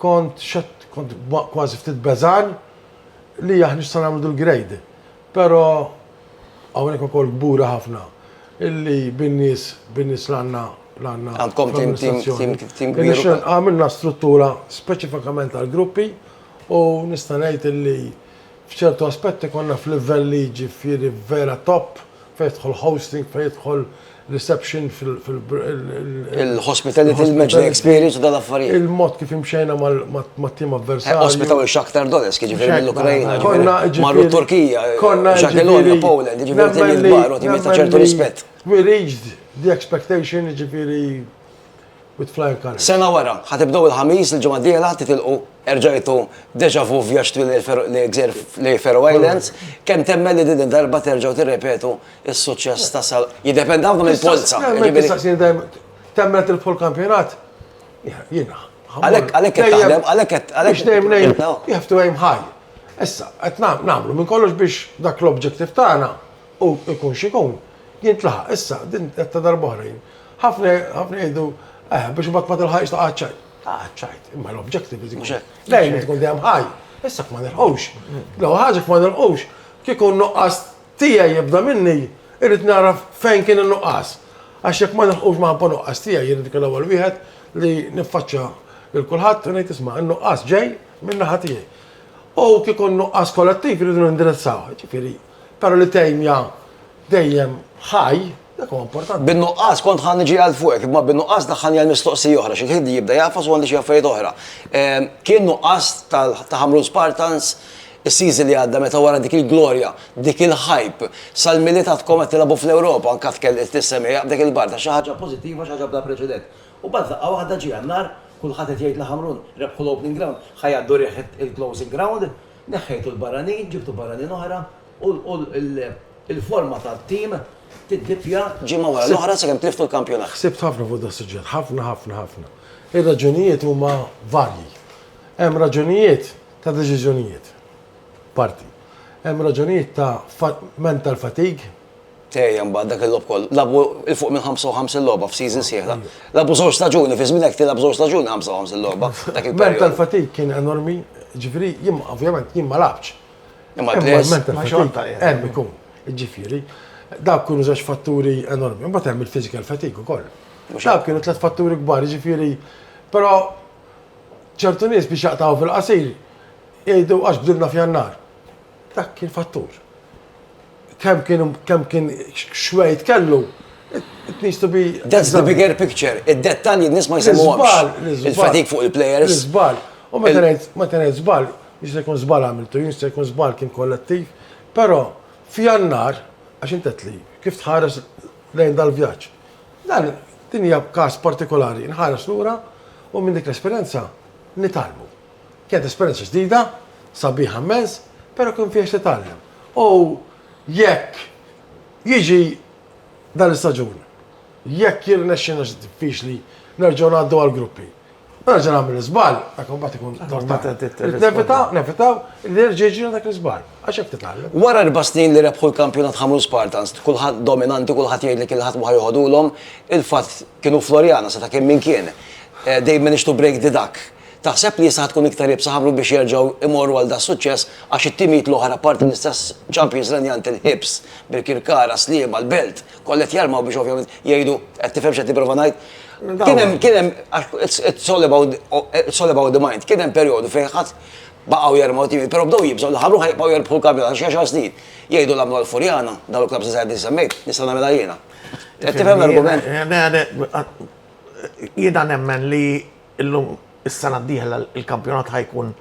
kont xett, kont kważi ftit beżan li aħna x'sa nagħmlu dil-grade. Però hawnhekk ukoll kburi ħafna illi bin-nies, bin-nies li għandna, li għandna. Għandkom tim, tim, tim, tim kbir. Irnexxilna, għamilna struttura speċifikament għall-gruppi u nista' ngħid illi f'ċertu aspetti konna f'livelli jiġifieri vera top fejn jidħol hosting, fejn jidħol reception fil- Il-hospitality, il-matchday experience u dal-affarijiet. Il-mod kif imxejna mat-tim avversarju. Ospitaw il-Shakhtar Donetsk, jiġifieri mill-Ukrajna. Konna ġifieri. Marru t-Turkija. Konna ġifieri. Jagiellonia, Poland, jiġifieri tim il-kbar u tim ta' ċertu rispett. We reached the expectation, jiġifieri with flying colours. Sena wara, ħa tibdew il-Ħamis, il-ġimgħa d-dieħla ħa titilqu, erġajtu déjà vu vjaġġ twil lejn Faroe Islands, kemm temmen li din id-darba terġgħu tirrepetu s-suċċess ta' sal. Jidepend hawn mill-polza. Temmen tilfu l-kampjonat? Jiena. Għalek, għalek qed taħdem, għalek qed għalek. Biex nejm nejm, you have to aim high. Issa, qed nagħmlu minn kollox biex dak l-objective tagħna u jkun xikun jintlaħaq. Issa, din qed ta' darbohra jien. Ħafna ħafna jgħidu, eh, biex imbagħad ma tilħaqx taqgħad ċajt. Taqgħad ċajt, imma l-objective is ikun. Dejjem tkun dejjem ħaj. Issa kif ma nilħux. Lew ħaġa kif ma nilħux, kieku n-nuqqas tiegħi jibda minni, irrid nara fejn kien in-nuqqas. Għax jekk ma nilħqux ma ħabba nuqqas tiegħi, jien irrid ikun l-ewwel wieħed li niffaċċja lil kulħadd u ngħid isma' n-nuqqas ġej minn naħa tiegħi. U kieku n-nuqqas kollettiv irridu nindirizzaw. Ġifieri, però li tejmja dejjem ħaj Dak huwa importanti. Bin-nuqqas, kont ħa niġi għal fuqek, imma bin-nuqqas daħħalni għal mistoqsija oħra, xi ħid jibda jagħfas u għandi xi affarijiet oħra. Kien nuqqas ta' Ħamrun Spartans is-season li għadda meta wara dik il-glorja, dik il-hype, sal-Milied għadkom qed tilagħbu fl-Ewropa, anke għad kellilt is-semgħa f'dik il-barda, xi ħaġa pożittiva, xi ħaġa bla preċedent. U mbagħad f'daqqa waħda ġie Jannar, kulħadd qed jgħid li Ħamrun rebħu l-Opening Ground, ħa jgħaddu riħ il-Closing Ground, neħħejtu l-barranin, ġibtu barranin oħra, u l-forma tat-tim tiddippja ġimgħa wara l-oħra sakemm tliftu l-kampjonat. Ħsibt ħafna fuq das-suġġett, ħafna ħafna ħafna. Ir-raġunijiet huma varji. Hemm raġunijiet ta' deċiżjonijiet, parti. Hemm raġunijiet ta' mental fatigue. Tejja mbagħad dak il-logħob kollu. Lagħbu 'il fuq minn 55 logħba f'season sieħla. Lagħbu żewġ staġuni, fi żminek tilgħab żewġ staġuni 55 logħba. Mental fatigue kien enormi, ġifieri jien ovvjament jien ma lagħbtx. Imma l-mental fatigue hemm ikun. Ġifieri, dawk kienu żewġ fatturi enormi. Imbagħad hemm il-physical fatigue ukoll. Dawk kienu tliet fatturi kbar, ġifieri, però ċertu nies biex jaqtaw fil-qasir jgħidu għax bdilna f'Jannar. Dak kien fattur. Kemm kien kemm kien xwejt kellu, it needs to be. That's the bigger picture, id-dettalji n-nies ma jsemmuhomx. Il-fatik fuq il-players. L-iżball. U meta ngħid meta ngħid żball, jista' jkun żball għamiltu jien, jista' jkun żball kien kollettiv, però f'Jannar, għax int għedtli kif tħares lejn dal-vjaġġ. Dan din hija każ partikolari, inħares lura u minn dik l-esperjenza nitgħallmu. Kienet esperjenza ġdida, sabiħa mmens, pero kien fija x'titgħallem. U jekk jiġi dan l-istaġun, jekk jirnexxina xi diffiċli nerġgħu ngħaddu għall-gruppi. U nerġa' nagħmel l-iżball, dak imbagħad ikun Irid nevita, nevitaw li jerġa' jiġri dak l-iżball, għax hekk titgħallem. Wara erba' snin li rebħu l-kampjonat ħamru l-Spartans, kulħadd dominanti, kulħadd jgħid li kien ħadd ma ħa joħodulhom, il-fatt kienu Floriana, seta' kien min kien. They managed to break the duck. Taħseb li issa ħa tkun iktar iebsa ħablu biex jerġgħu jmorru għal das-suċċess għax it-timijiet l-oħra apparti l-istess champions Renjant il-Hibs, Birkirkara, Sliema, l-Belt, kollha qed jarmaw biex ovvjament jgħidu, qed tifhem x'qed nipprova ngħid? Kien hemm, kien hemm, għax it's all about, it's all about the mind, kien hemm perjodu fejn ħadd baqgħu jermaw timijiet, però bdew jibżgħu li ħablu ħa jibqgħu jerbħu l-kampjonat għal xi għaxar snin. Jgħidu l-għamlu għall-Furjana, dawn il-klabbs li sejħet li semmejt, nista' nagħmilha jiena. Qed tifhem l-argument? Jiena nemmen li Illum is-sena d-dieħla l-kampjonat ħa jkun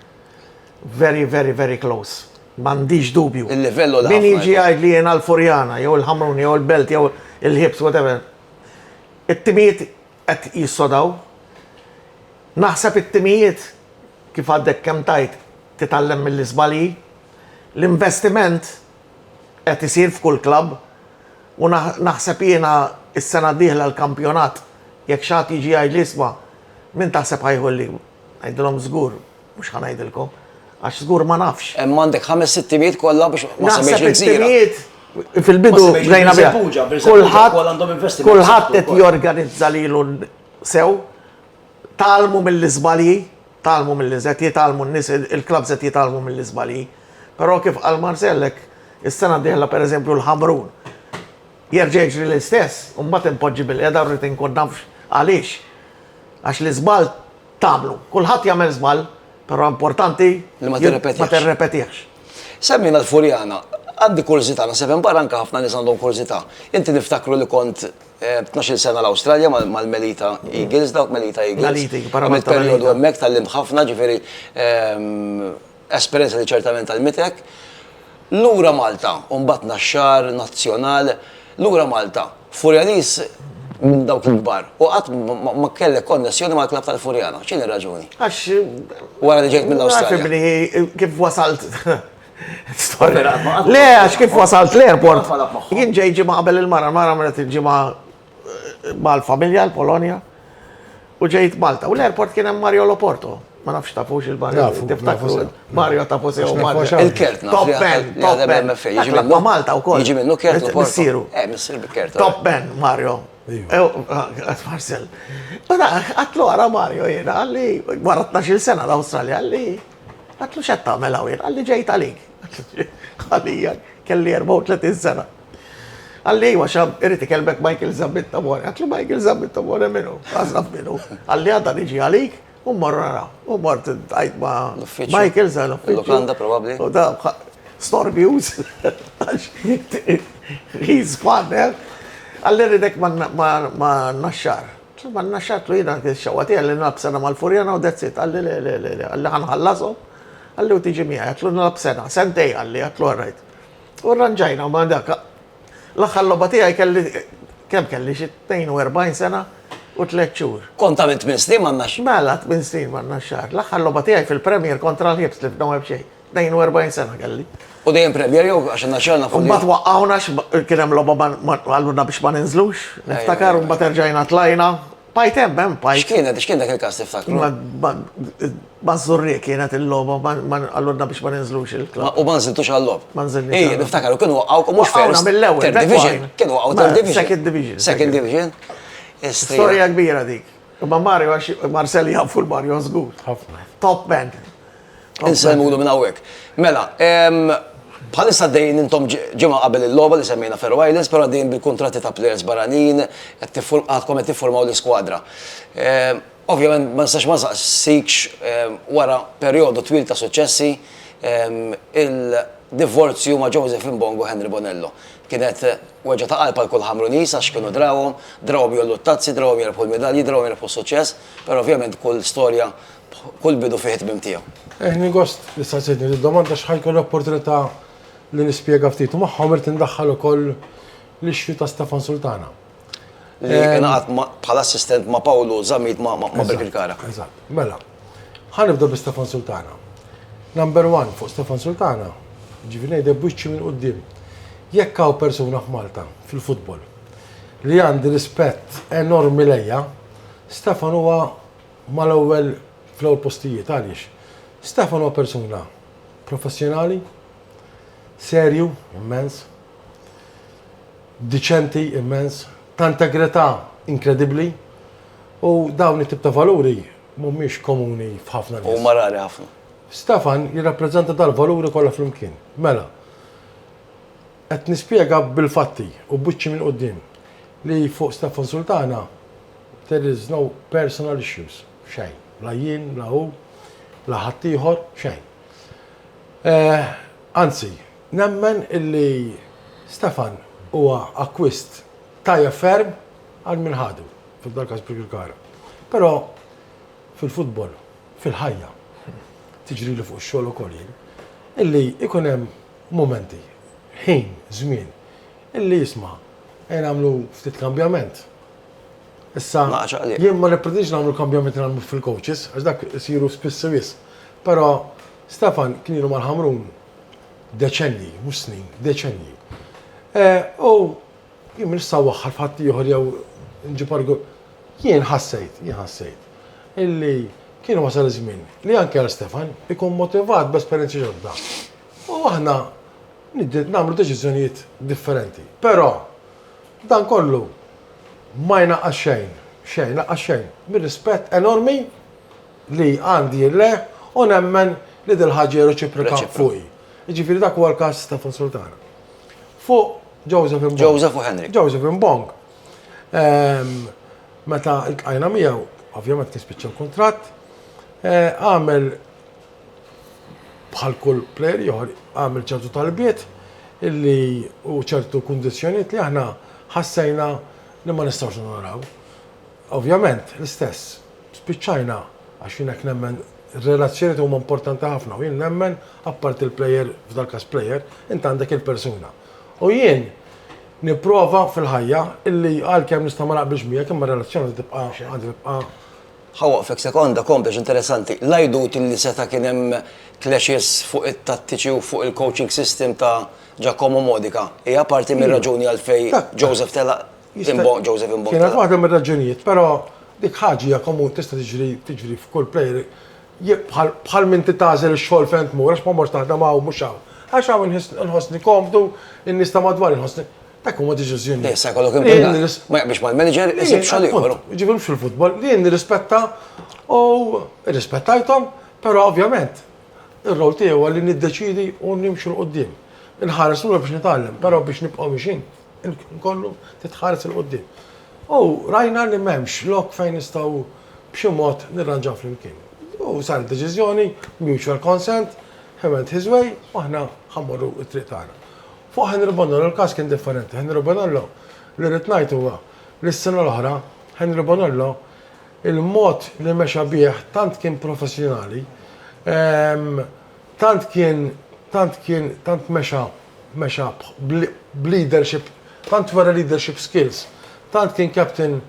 very very very close. M'għandix dubju. Il-livell u l Min jiġi jgħidli jiena l-Furjana jew il-Ħamrun jew il-Belt jew il-Ħibs whatever. It-timijiet qed jissodaw. Naħseb it-timijiet kif għadek kemm tajt titgħallem mill-iżbalji. L-investiment qed isir f'kull klabb. U naħseb jiena s-sena d-dieħla l-kampjonat jekk xi ħadd jiġi jgħidli isma' min taħseb ħa jieħu l-league? Ngħidilhom żgur mhux ħa ngħidilkom għax żgur ma nafx. Hemm għandek ħames sitt timijiet kollha biex ma semmejtx il-gżira. Naħseb it-timijiet fil-bidu bdejna biha. Kulħadd kulħadd qed jorganizza lilu sew, tgħallmu mill-iżbalji Tgħallmu mill qed jitgħallmu n-nies il-klabbs qed jitgħallmu mill-iżbalji. Però kif qal Marcel hekk is-sena d-dieħla pereżempju l-Ħamrun jerġa' jiġri l-istess u mbagħad inpoġġi bilqiegħda u rrid inkun naf għaliex. Għax l-iżball tagħmlu. Kulħadd jagħmel żball, però importanti li ma tirrepetihx. Semmejna l-Furjana. Għandi kurżità, naħseb hemm barra anke ħafna nies għandhom kurżità. Inti niftakru li kont Tnax-il sena l-Awstralja mal-Melita Eagles, dawk Melita Eagles. Melita Eagles, para Malta. Perjodu hemmhekk tallimt ħafna, ġifieri esperjenza li ċertament għallmitek. Lura Malta, u mbagħad Naxxar, Nazzjonal, lura Malta. Furjanis minn dawk il-kbar. U qatt ma kellek konnessjoni mal-klabb tal-Furjana. X'inhi r-raġuni? Għax. Wara li ġejt mill-Awstralja. Kif wasalt Le, għax kif wasalt l-airport, jien ġej ġimma qabel il-mara, mara mret il-ġimma eh, mal-familja l-Polonja, u ġejt Malta. U l-airport kien hemm Mario Loporto. Ma nafx tafux il-barra. Tiftakru Mario tafu sew Mario. Il-kert, top ben, top ben. Ġimma Malta u koll. Ġimma kert Loporto. Missiru. Eh, missir kert. Top ben, Mario. Għat Marcel. Għatlu għara Mario jena, għalli, għara 12 sena l-Australia, għalli. Għatlu xed tagħmel hawn, għalli ġejt għalik. Għalija, kelli 34 sena. Għalli iwa xab, irrit ikelmek Michael Zammit Tamore. Għatlu Michael Zammit Tamore minu, għazraf minu. Għalli għadda niġi għalik, u morru naraw. U mort għajt ma Michael Zammit. L-lukanda probabli. U da, store news. He's gone, eh? Għalli rridek ma naxxar. Insomma nnaxxat u jiena kien ix-xewqa tiegħi li nilgħab sena mal-Furjana u that's it. Qalli, le, le, le, le, qalli ħa nħallashom, qalli u tiġi miegħi, għedtlu nilgħab sena, sentejn qalli, għedtlu all right. U rranġajna ma' dak. L-aħħar logħba tiegħi kelli, kemm kelli, xi 42 sena u tliet xhur. Kont tagħmel tmien snin man-naxxar. Mela, tmien snin man-naxxar. L-aħħar logħba tiegħi fil-Premier kontra l-Hibs li f'Noweb xejn. 42 sena kelli. U dejjem premjer jew għax naxxalna fuq. Mbagħad waqqawna kien hemm logħba għalluna biex ma ninżlux. Niftakar u mbagħad erġajna tlajna. Pajt hemm hemm pajt. X'kienet x'kien dak il-każ tiftakru? Mażżurri kienet il-logħba għalluna biex ma ninżlux il-klabb. U ma nżiltux għall-logħob. Ma nżiltux. Ej, niftakar kienu waqgħu mhux first. Mill-ewwel. Division. Kienu waqgħu third division. Second division. Second division. Storja kbira dik. Ma Mario għax Marcel jafu l-Mario żgur. Top man. Insellmulu minn hawnhekk. Mela, bħalissa għaddejjin intom ġimgħa qabel il-logħba li semmejna Faroe Islands, però għaddejjin bil-kuntratti ta' plejers barranin, qed għadkom qed tifformaw l-iskwadra. Ovvjament ma nistax ma nsaqsikx wara perjodu twil ta' suċċessi, il-divorzju ma' Joseph Mbongo u Henry Bonello. Kienet weġgħa ta' qalb għal kull Ħamruniż għax kienu drawhom, drawhom jgħollu t-tazzi, drawhom jirbħu l-midalji, drawhom jirbħu s-suċċess, però ovvjament kull storja Kull bidu fih it-tmiem tiegħu. Ħadni gost li staqsejtni did-domanda għax ħa jkolli opportunità li nispjega ftit u magħhom irrid indaħħal ukoll l-issue ta' Stefan Sultana. Li ingħaqad bħala assistent ma' Pawlu Zammit ma' Birkirkara. Eżatt. Mela, ħa nibda bi Stefan Sultana. Number one fuq Stefan Sultana, jiġifieri ngħidlek b'wiċċi minn quddiem. Jekk hawn persuna f'Malta fil-futbol li għandi rispett enormi lejha, Stefan huwa mal-ewwel fl-ewwel postijiet għaliex Stefan huwa persuna professjonali, serju immens, diċenti immens, ta' integrità inkredibbli u dawn it-tip ta' valuri mhumiex komuni f'ħafna nies. Huma rari ħafna. Stefan jirrappreżenta dal-valuri kollha flimkien. Mela. Qed nispjega bil-fatti u b'wiċċi minn quddiem li fuq Stefan Sultana there is no personal issues, xejn, la jien, la hu, la ħaddieħor, xejn. Anzi, nemmen illi Stefan huwa akkwist tajjeb ferm għal min ħadu, f'dal-każ Birkirkara. Però fil-futbol, fil-ħajja, tiġrili fuq ix-xogħol ukoll jien, illi jkun hemm Mumenti, ħin, żmien, illi isma', ejja nagħmlu ftit kambjament. Issa, jien ma nippretendix nagħmlu l-kambjamenti li nagħmlu fil-coaches, għax dak isiru spiss wisq. Però Stefan kien ilu mal-Ħamrun deċennji, mhux snin, deċennji. U jien m'iniex sa waħħal f'ħadd ieħor jew nġib argu. Jien ħassejt, jien ħassejt illi kien wasal iż-żmien li anke għal Stefan ikun motivat b'esperjenzi ġodda. U aħna nagħmlu deċiżjonijiet differenti. Però dan kollu ma jnaqqas xejn, xejn, lanqas xejn, mir-rispett enormi li għandi lejh u nemmen li dil-ħaġa hija reċiproka fuqi. Jiġifieri dak huwa l-każ ta' Fon Sultana. Fuq Joseph Mbong. Joseph u Henrik. Joseph Mbong. Meta ltqajna miegħu, ovvjament kien spiċċa l-kuntratt, għamel Bħal kull plejer ieħor għamel ċertu talbiet illi u ċertu kundizzjonijiet li aħna ħassejna li ma nistgħux nonoraw. Ovvjament, l-istess, spiċċajna għax jien hekk nemmen r-relazzjonijiet huma importanti ħafna u jien nemmen apparti l-plejer, f'dal-każ plejer, int għandek il-persuna. U jien nipprova fil-ħajja illi għalkemm nista' ma naqbilx miegħek imma r-relazzjoni tibqa' għandha tibqa' Ħa waqfek sekonda, komplex interessanti. L-għidut li seta' kien hemm clashes fuq it-tattiċi u fuq il-coaching system ta' Giacomo Modica hija parti mir-raġuni għalfejn Joseph telaq Imbogħad, Joseph Imbogħad telaq. Kienet waħda mir-raġunijiet, però dik ħaġa hija komuni tista' tiġri tiġri f'kull plejer bħal bħal m'inti tagħżel ix-xogħol fejn tmur għax ma mortx taħdem hawn mhux hawn. Għax hawn inħossni komdu, in-nies ta' madwari nħossni. Dak huma deċiżjoni. Issa jkollok impjegat. Ma jaqbilx mal-manager, isib xogħol ieħor. Ġibhom fil-futbol, li nirrispetta u irrispettajthom, però ovvjament ir-rol tiegħi huwa li niddeċidi u nimxu l qudiem. Inħares lura biex nitgħallem, però biex nibqgħu mixin, nkollu titħares il qudiem. U rajna li m'hemmx lok fejn nistgħu b'xi mod nirranġaw flimkien. U sar deċiżjoni, mutual consent, he went his way, u aħna ħammorru t-triq tagħna. Fuq Henry Bonollo l-każ kien differenti. Henry Bonollo, li rrid ngħid huwa li s-sena l-oħra Henry Bonollo il-mod li mexa bih tant kien professjonali, tant kien tant kien tant mexa mexa b'leadership, tant wera leadership skills, tant kien captain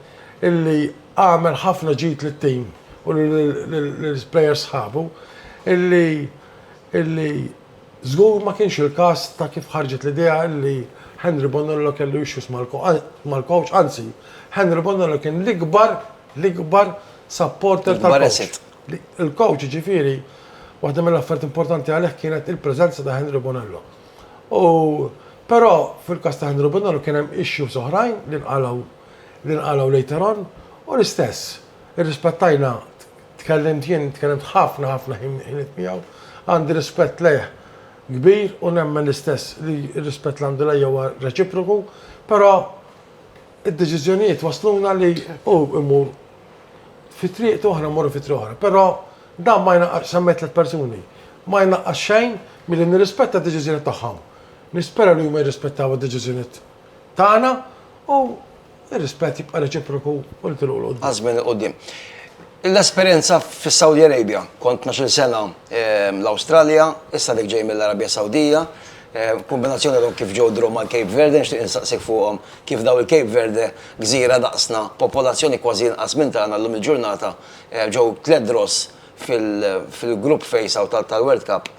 illi għamel ħafna ġid lit-tim u lill-players sħabu illi illi Żgur ma kienx il-każ ta' kif ħarġet l-idea li Henry Bonello kellu issues mal-coach, anzi, Henry Bonello kien l-ikbar, l-ikbar supporter tal-coach. Il-coach, jiġifieri, waħda mill-affarijiet importanti għalih kienet il-preżenza ta' Henry Bonello. U però fil-każ ta' Henry Bonello kien hemm issues oħrajn li nqalgħu li nqalgħu later on u l-istess, irrispettajna Tkellimt jien, tkellimt ħafna ħafna ħiniet miegħu. Għandi rispett lejh kbir u nemmen l-istess li r-rispett li għandu lejja huwa reċiproku, però id-deċiżjonijiet wasluna li hu imur fi triq u aħna mmorru fi triq oħra. Però dan ma jnaqqas semmejt tliet persuni, ma jnaqqas xejn milli nirrispetta d-deċiżjonijiet tagħhom. Nispera li huma jirrispettaw id-deċiżjonijiet tagħna u Ir-rispett jibqa' reċiproku u l-kilu 'l quddiem. Għaż-żmien 'il quddiem. L-esperjenza fis-Saudi Arabia. Kont tnax-il sena l-Awstralja, issa dik ġej mill-Arabja Sawdija. Kombinazzjoni għadhom kif ġew draw mal-Cape Verde, nixtieq insaqsik fuqhom kif daw il-Cape Verde, gżira daqsna, popolazzjoni kważi inqas minn tagħna llum il-ġurnata, ġew tliet draws. fil-grupp face-out tal-World Cup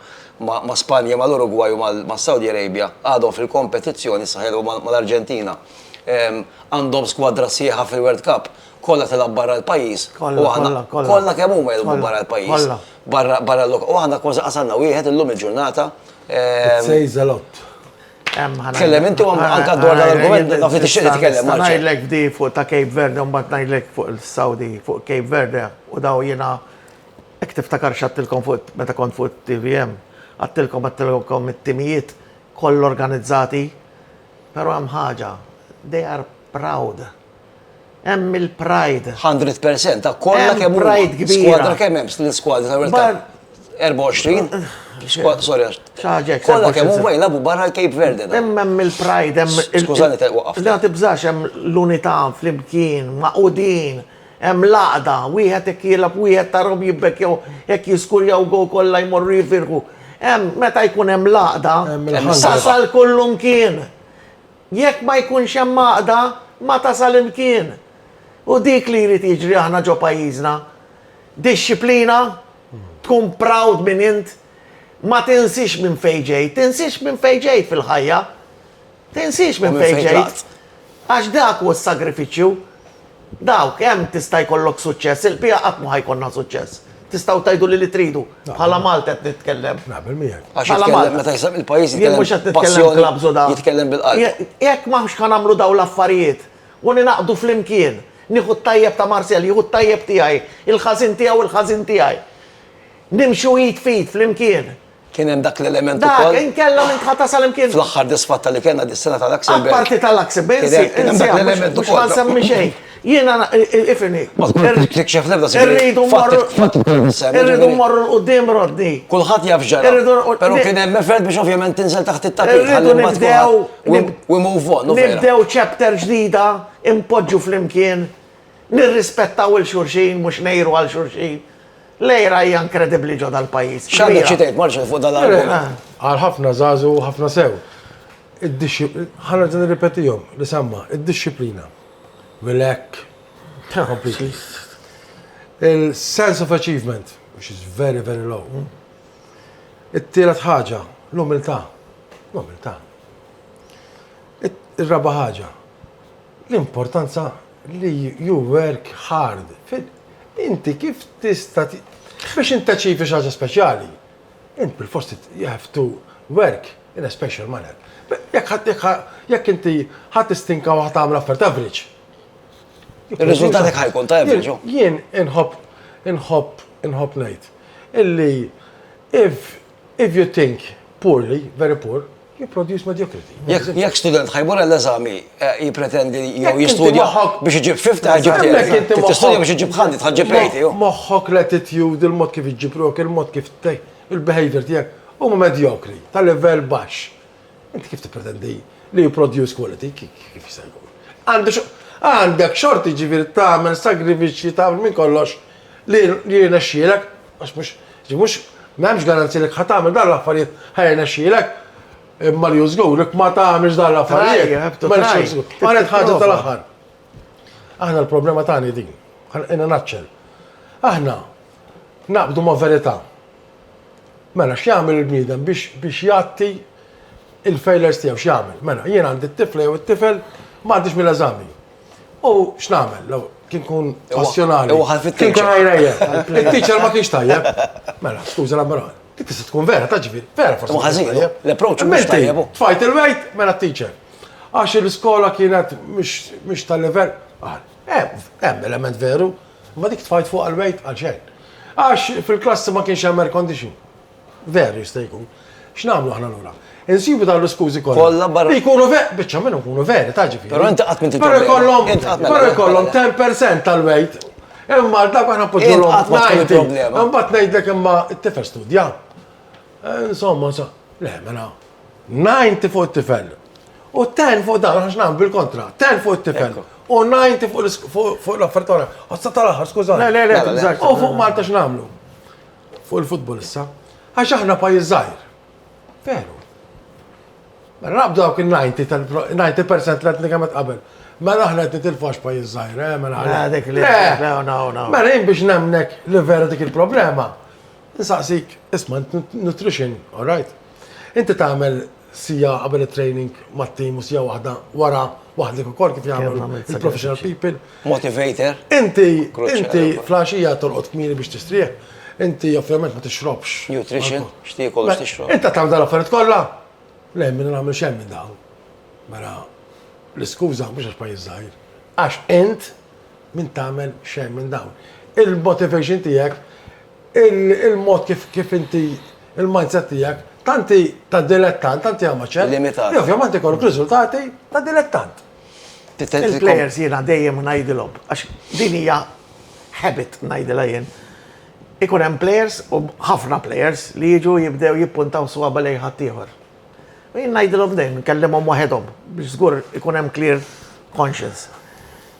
ma' Spanja, mal-Urugwaj u mas-Saudi Arabia għadhom fil-kompetizzjoni, issa ħajilgħu mal-Arġentina. Għandhom skwadra sħiħa fil-World Cup, kollha tilgħab barra l-pajjiż u aħna kollha kemm huma jilgħbu barra l-pajjiż. U aħna kważi qasamna wieħed illum il-ġurnata. It says a lot. Tkellem inti u anka dwar l-argument naf li tixtieq titkellem. Ngħidlek di fuq ta' Cape Verde u mbagħad ngħidlek fuq il-Saudi fuq Cape Verde u daw jiena hekk tiftakar x'għattilkom fuq meta kont fuq TVM. Għattilkom għattilkom it-timijiet koll organizzati. Però hemm ħaġa, they are proud Hemm il-pride. 100% ta' kollha kemm pride kbira. Skwadra kemm hemm l-iskwadra ta' World Cup. 24. Sorry, ċaġek. Kollha kemm huma jilagħbu barra l-Cape Verde. Hemm hemm il-pride, hemm il Skużani ta' waqaf. La tibżax hemm l-unità flimkien, maqudin, hemm laqda, wieħed hekk jilgħab wieħed tarhom jibbekkew hekk jiskurjaw go kollha jmorru jifirħu. Hemm meta jkun hemm laqda, tasal kullum kien. Jekk ma jkunx hemm għaqda, ma tasal imkien. U dik li jrid jiġri aħna ġo pajjiżna. Dixxiplina, tkun proud minn int, ma tinsiex minn fejn ġejt, tinsiex minn fejn ġejt fil-ħajja. Tinsiex minn fejn ġejt. Għax dak hu s-sagrifiċċju. Dawk, hemm tista' jkollok suċċess, il-bqija qatt mhu ħa jkollna suċċess. Tistgħu tgħiduli li tridu, bħala Malti qed nitkellem. Naqbel miegħek. Għax jitkellem meta jisem il-pajjiż jitkellem. Jien mhux qed nitkellem klabbs u da. Jitkellem bil-qalb. Jekk m'aħx ħa nagħmlu dawn l-affarijiet u ningħaqdu flimkien, nieħu t-tajjeb ta' Marcel, jieħu t-tajjeb tiegħi, il-ħażin tiegħu, il-ħażin tiegħi. Nimxu id f'id flimkien. Kien hemm dak l-element Dak, ukoll. inkella minn tħata sal-imkien. Fl-aħħar disfatta li kellna dis-sena tal-Luxembourg. Apparti tal-Luxembourg, Kien hemm- kien hemm dak l-element mhux ukoll. ħansemmi xejn. Jiena na- i- i- ifimni. Ma tkunx tikxef l-ebda sigriet. Irridu Fatt- morru. fatt ukoll nissemmi, Irridu ġifieri- morru l-qudiem Rodni. Kulħadd jaf x'ġara. Irridu nqod- Però ni- kien hemm effort biex ovvjament tinżel taħt it-tapit. Irridu ħalli mbagħad nibdew. kulħadd- we- nib- We move on, u vera. Nibdew chapter ġdida, impoġġu flimkien, nirrispettaw il-xurxin, mhux nejru għal xurxin. Lejra hija inkredibbli ġo dal-pajjiż. X'għandek xi tgħid Marcel fuq dan l-argument? Għal ħafna żagħżugħ u ħafna sew. Ħanerġa' nirrepetihom li semma, id-dixxiplina. Mill-hekk. Il-sense of achievement, which is very, very low. It-tielet ħaġa, l-umiltà. L-umiltà. Ir-raba' ħaġa, l-importanza li you work hard, inti kif tista' biex int taċivi xi ħaġa speċjali, int bilfors you have to work in a special manner. Jekk inti ħa tistinka u ħa tagħmel affarijiet average. Ir-riżultat ħa jkun ta' average hu. Jien inħobb inħobb inħobb ngħid illi if you think poorly, very poor, You produce mediocrity. Jekk student ħajmur għall-eżami eh, jipretendi jew jistudja biex iġib 50 ħajġib tiegħek. Tistudja biex iġib ħandi tħaġġib 80. Moħħok l-attitude, il-mod kif iġib rok, il-mod kif il-behavior tiegħek huma medjokri, ta' livell baxx. Inti kif tippretendi li you produce quality kif jista' jkun? Għandek għandek xorti ġifieri tagħmel sagrifiċċji tagħmel minn kollox li jirnexxielek Għax mhux, ġi mhux, m'hemmx garanzija li ħa tagħmel dan l-affarijiet, ħa jirnexxielek. Imma li hu żgur, jekk ma tagħmilx dan l-affarijiet, ma nixtieqx żgur. Qalet ħaġa tal-aħħar. Aħna l-problema tagħna hi din. Ħanqina naċċel. Aħna naqbdu ma' verità. Mela, x'jagħmel il-bniedem biex biex jgħatti il-failures tiegħu x'jagħmel? Mela, jien għandi t-tifla jew it-tifel ma għaddix mill-eżami. U x'nagħmel? Law, kien kun passjonali. U ħal fit-teacher. Kien kun għajrejja. Il-teacher ma kienx tajjeb. Mela, skuża la mara. Dik tista' tkun vera, ta' ġifieri. Vera forsi. Ħażin, l-approach mhux tajjeb. Tfajt il-wejt, mela t-teacher. Għax l-iskola kienet mhux tal-level. Hemm element veru, ma dik tfajt fuq għal-wejt għal xejn. Għax fil-klassi ma kienx hemm air condition. Veru jista' jkun. X'nagħmlu aħna lura? Insibu dawn l-iskużi kollha. Kollha barra. Jkunu ver, biċċa minnhom ikunu veri, ta' ġifieri. Però inti qatt m'inti Però jkollhom, però jkollhom 10% tal-wejt. Imma dak aħna poġġolhom 90. Imbagħad ngħidlek imma t-tifel studja. Eh, insomma, sa, le, mela, 90 fuq it-tifel. U 10 fuq dan, għax nagħmlu bil-kontra, 10 fuq it-tifel. U 90 fuq l-affertora. Għassa tal-aħħar, skużani. Le, le, le, u fuq Malta x'nagħmlu? Fuq il-futbol issa. Għax aħna pajjiż żgħir. Veru. Mela naqbdu dawk il-90 percent li qed nikemet qabel. Mela aħna qed nitilfu għax pajjiż żgħir, eh, mela. Mela dik li. Mela jien biex nemnek li vera dik il-problema, nsaqsik, isma' nutrition, all right? Inti tagħmel siegħa qabel it-training mat-team u siegħa waħda wara waħdek ukoll kif jagħmlu l-professional people. Motivator. Inti inti flaxija torqod kmieni biex tistrieħ. Inti ovvjament ma tixrobx. Nutrition, x'tiekol biex tixrob. Inta tagħmel dan affarijiet kollha? Le, minn nagħmel xejn minn dawn. Mela l-iskuża mhux għax pajjiż żgħir. Għax int minn tagħmel xejn minn dawn. Il-motivation tiegħek Il-mod kif kif inti il-mindset tiegħek tanti ta' dilettant, tanti amateur. Limitat. Li ovvjament ikollok riżultati ta' dilettant. Il-players jiena dejjem ngħidilhom, għax din hija habit ngħidilha jien. Ikun hemm players u ħafna players li jiġu jibdew jippuntaw swaba' lejn ħaddieħor. U jien ngħidilhom dejjem, nkellimhom waħedhom biex żgur ikun hemm clear conscience.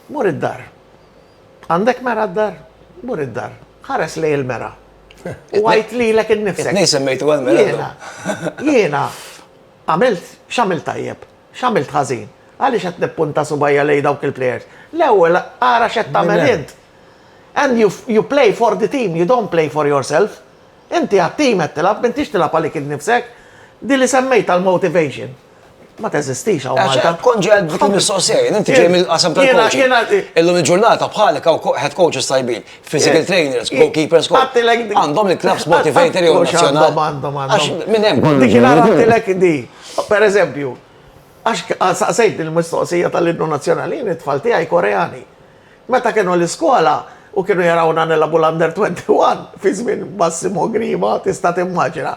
Mur id-dar. Għandek mera d-dar? Mur id-dar. Ħares lej il-mera. U għajt li l-ek il-nifsek. Nejn semmejtu għal-mera. Jena, jena, għamilt, xamilt tajjeb, xamilt ħazin. Għalli xet nippunta subajja lej dawk il-players. L-ewel, għara xet tamel int. And you, you play for the team, you don't play for yourself. Inti għat-team għed tilab, mintix tilab għalik il-nifsek. Di li semmejt għal-motivation. Ma teżistix għaw Malta. Għaxħat konġi għad dik il-mistoqsija, inti ġej mill-qasam tal-coaching. Illum il-ġurnata bħalek għaw head coaches tajbin, physical trainers, goalkeepers, għandhom il-clubs motivator jew nazjonal. Għandhom, għandhom. Minn hemm. Dik il-għatilek di. Per eżempju, għax saqsejt il-mistoqsija tal-innu nazjonali, it-tfal tiegħi koreani. Meta kienu l-iskola, u kienu jarawna nilabu l-under 21 fi żmien Massimo Grima tista' timmaġina.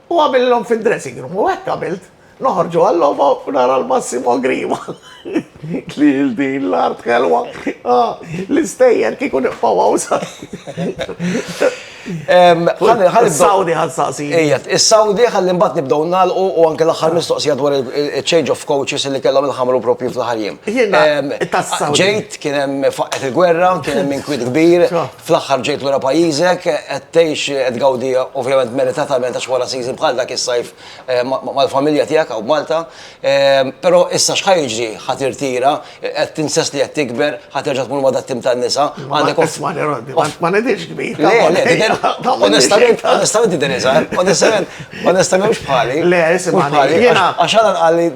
U għamillhom fid-dressing room u hekk għamilt. Noħorġu għal-logħba u nara l-Massimo Grima. Li din l-art ħelwa. Ah, l-istejjer kieku niqfaw għaw sa. Saudi ħal saqsi. Ijet, il-Saudi ħalli mbat nibdow nalqu u anke l-axar mistoqsija dwar il-change of coaches li kellhom il-ħamru propju fl-ħarjem. Ġejt, kienem faqqet il-gwerra, kienem minn kwid kbir, Fl-aħħar ġejt lura pajjiżek, qed tgħix, qed tgawdi ovvjament meritatament għax wara season bħal dak is-sajf mal-familja tiegħek hawn Malta. Però issa x'ħa jiġri? Ħa tirtira, qed tinsess li qed tikber, ħa terġa' tmur ma' dat-tim tan-nisa, għandek. Ismagħni Roddy, ma nidhirx kbir. Le, le, tidher, onestament, onestament tidher iżgħar, onestament, onestament mhux bħali. Le, ismagħni, jiena. Għax Alan qal li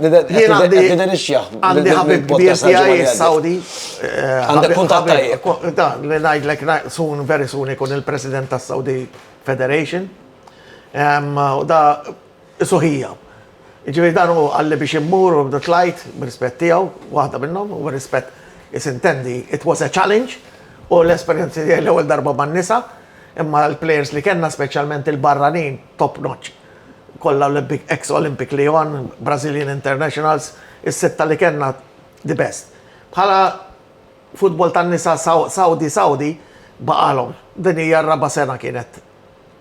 tidher ix-xjaħ. Għandi ħabib kbir tiegħi Sawdi, Għandek kuntat tajjeb. Da, li ngħidlek soon, very soon ikun il-President tas-Saudi Federation. U da suħija. Ġifieri dan hu għalli biex immur u tlajt b'rispett tiegħu, waħda minnhom, u rispett isintendi it was a challenge u l-esperjenzi tiegħi l-ewwel darba man-nisa, imma l-plejers li kellna speċjalment il-barranin top notch. Kollha Olympic, ex-Olympic Lyon, Brazilian internationals, is-sitta li kellna The best. Bħala futbol tan-nisa Sawdi Sawdi baqalhom. Din hija r-raba' sena kienet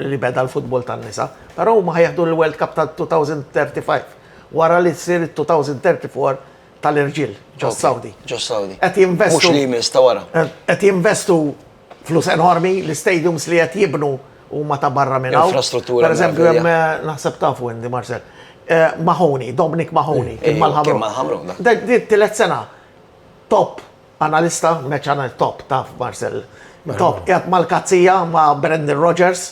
li beda l-futbol tan-nisa. Però huma ħajieħdu l-World Cup tal-2035 wara li ssir it-2034 tal-irġiel ġo s-Sawdi. Ġo s-Sawdi. Qed jinvestu. Mhux li jmiss, ta' wara. Qed jinvestu. Flus enormi, l-stadiums li qed jibnu huma ta' barra minn hawn. Infrastruttura. Per eżempju, hemm eh, naħseb ta' Wendy Marcel. Eh, Mahoney, Dominic Mahoney, kien mal-ħabru. mal-ħabru. Tilet sena, top analista, meċ anal top ta' Marcel. Top, jgħat mal-kazzija ma' Brendan Rogers.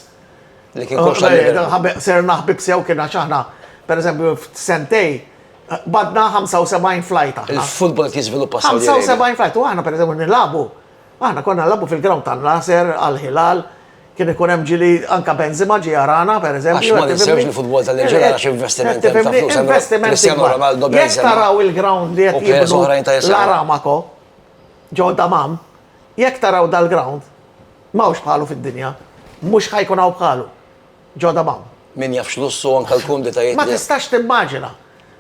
Li kien koxa eh, li. Ser naħbib sew kien għaxħana, per eżempju, sentej, badna 75 flajta. Il-futbol kien sviluppa 75 flajta, u għana per eżempju nilabu. Aħna konna nilagħbu fil-ground tan-Nasser, Al-Hilal, kien ikun hemm ġieli, anke Benzema ġie jarana, per eżempju. Għax ma ninsewx li futbol tal-Irġiel għal xi investimenti ta' flus. Investimenti kbar. Jekk taraw il-ground li qed jibnu l-Aramako, ġo Dammam, jekk taraw dal-ground, m'hawnx bħalu fid-dinja. Mhux ħa jkun hawn bħalu. ġo Dammam. Min jaf x'lussu u anke l-kumditajiet li. Ma tistax timmaġina!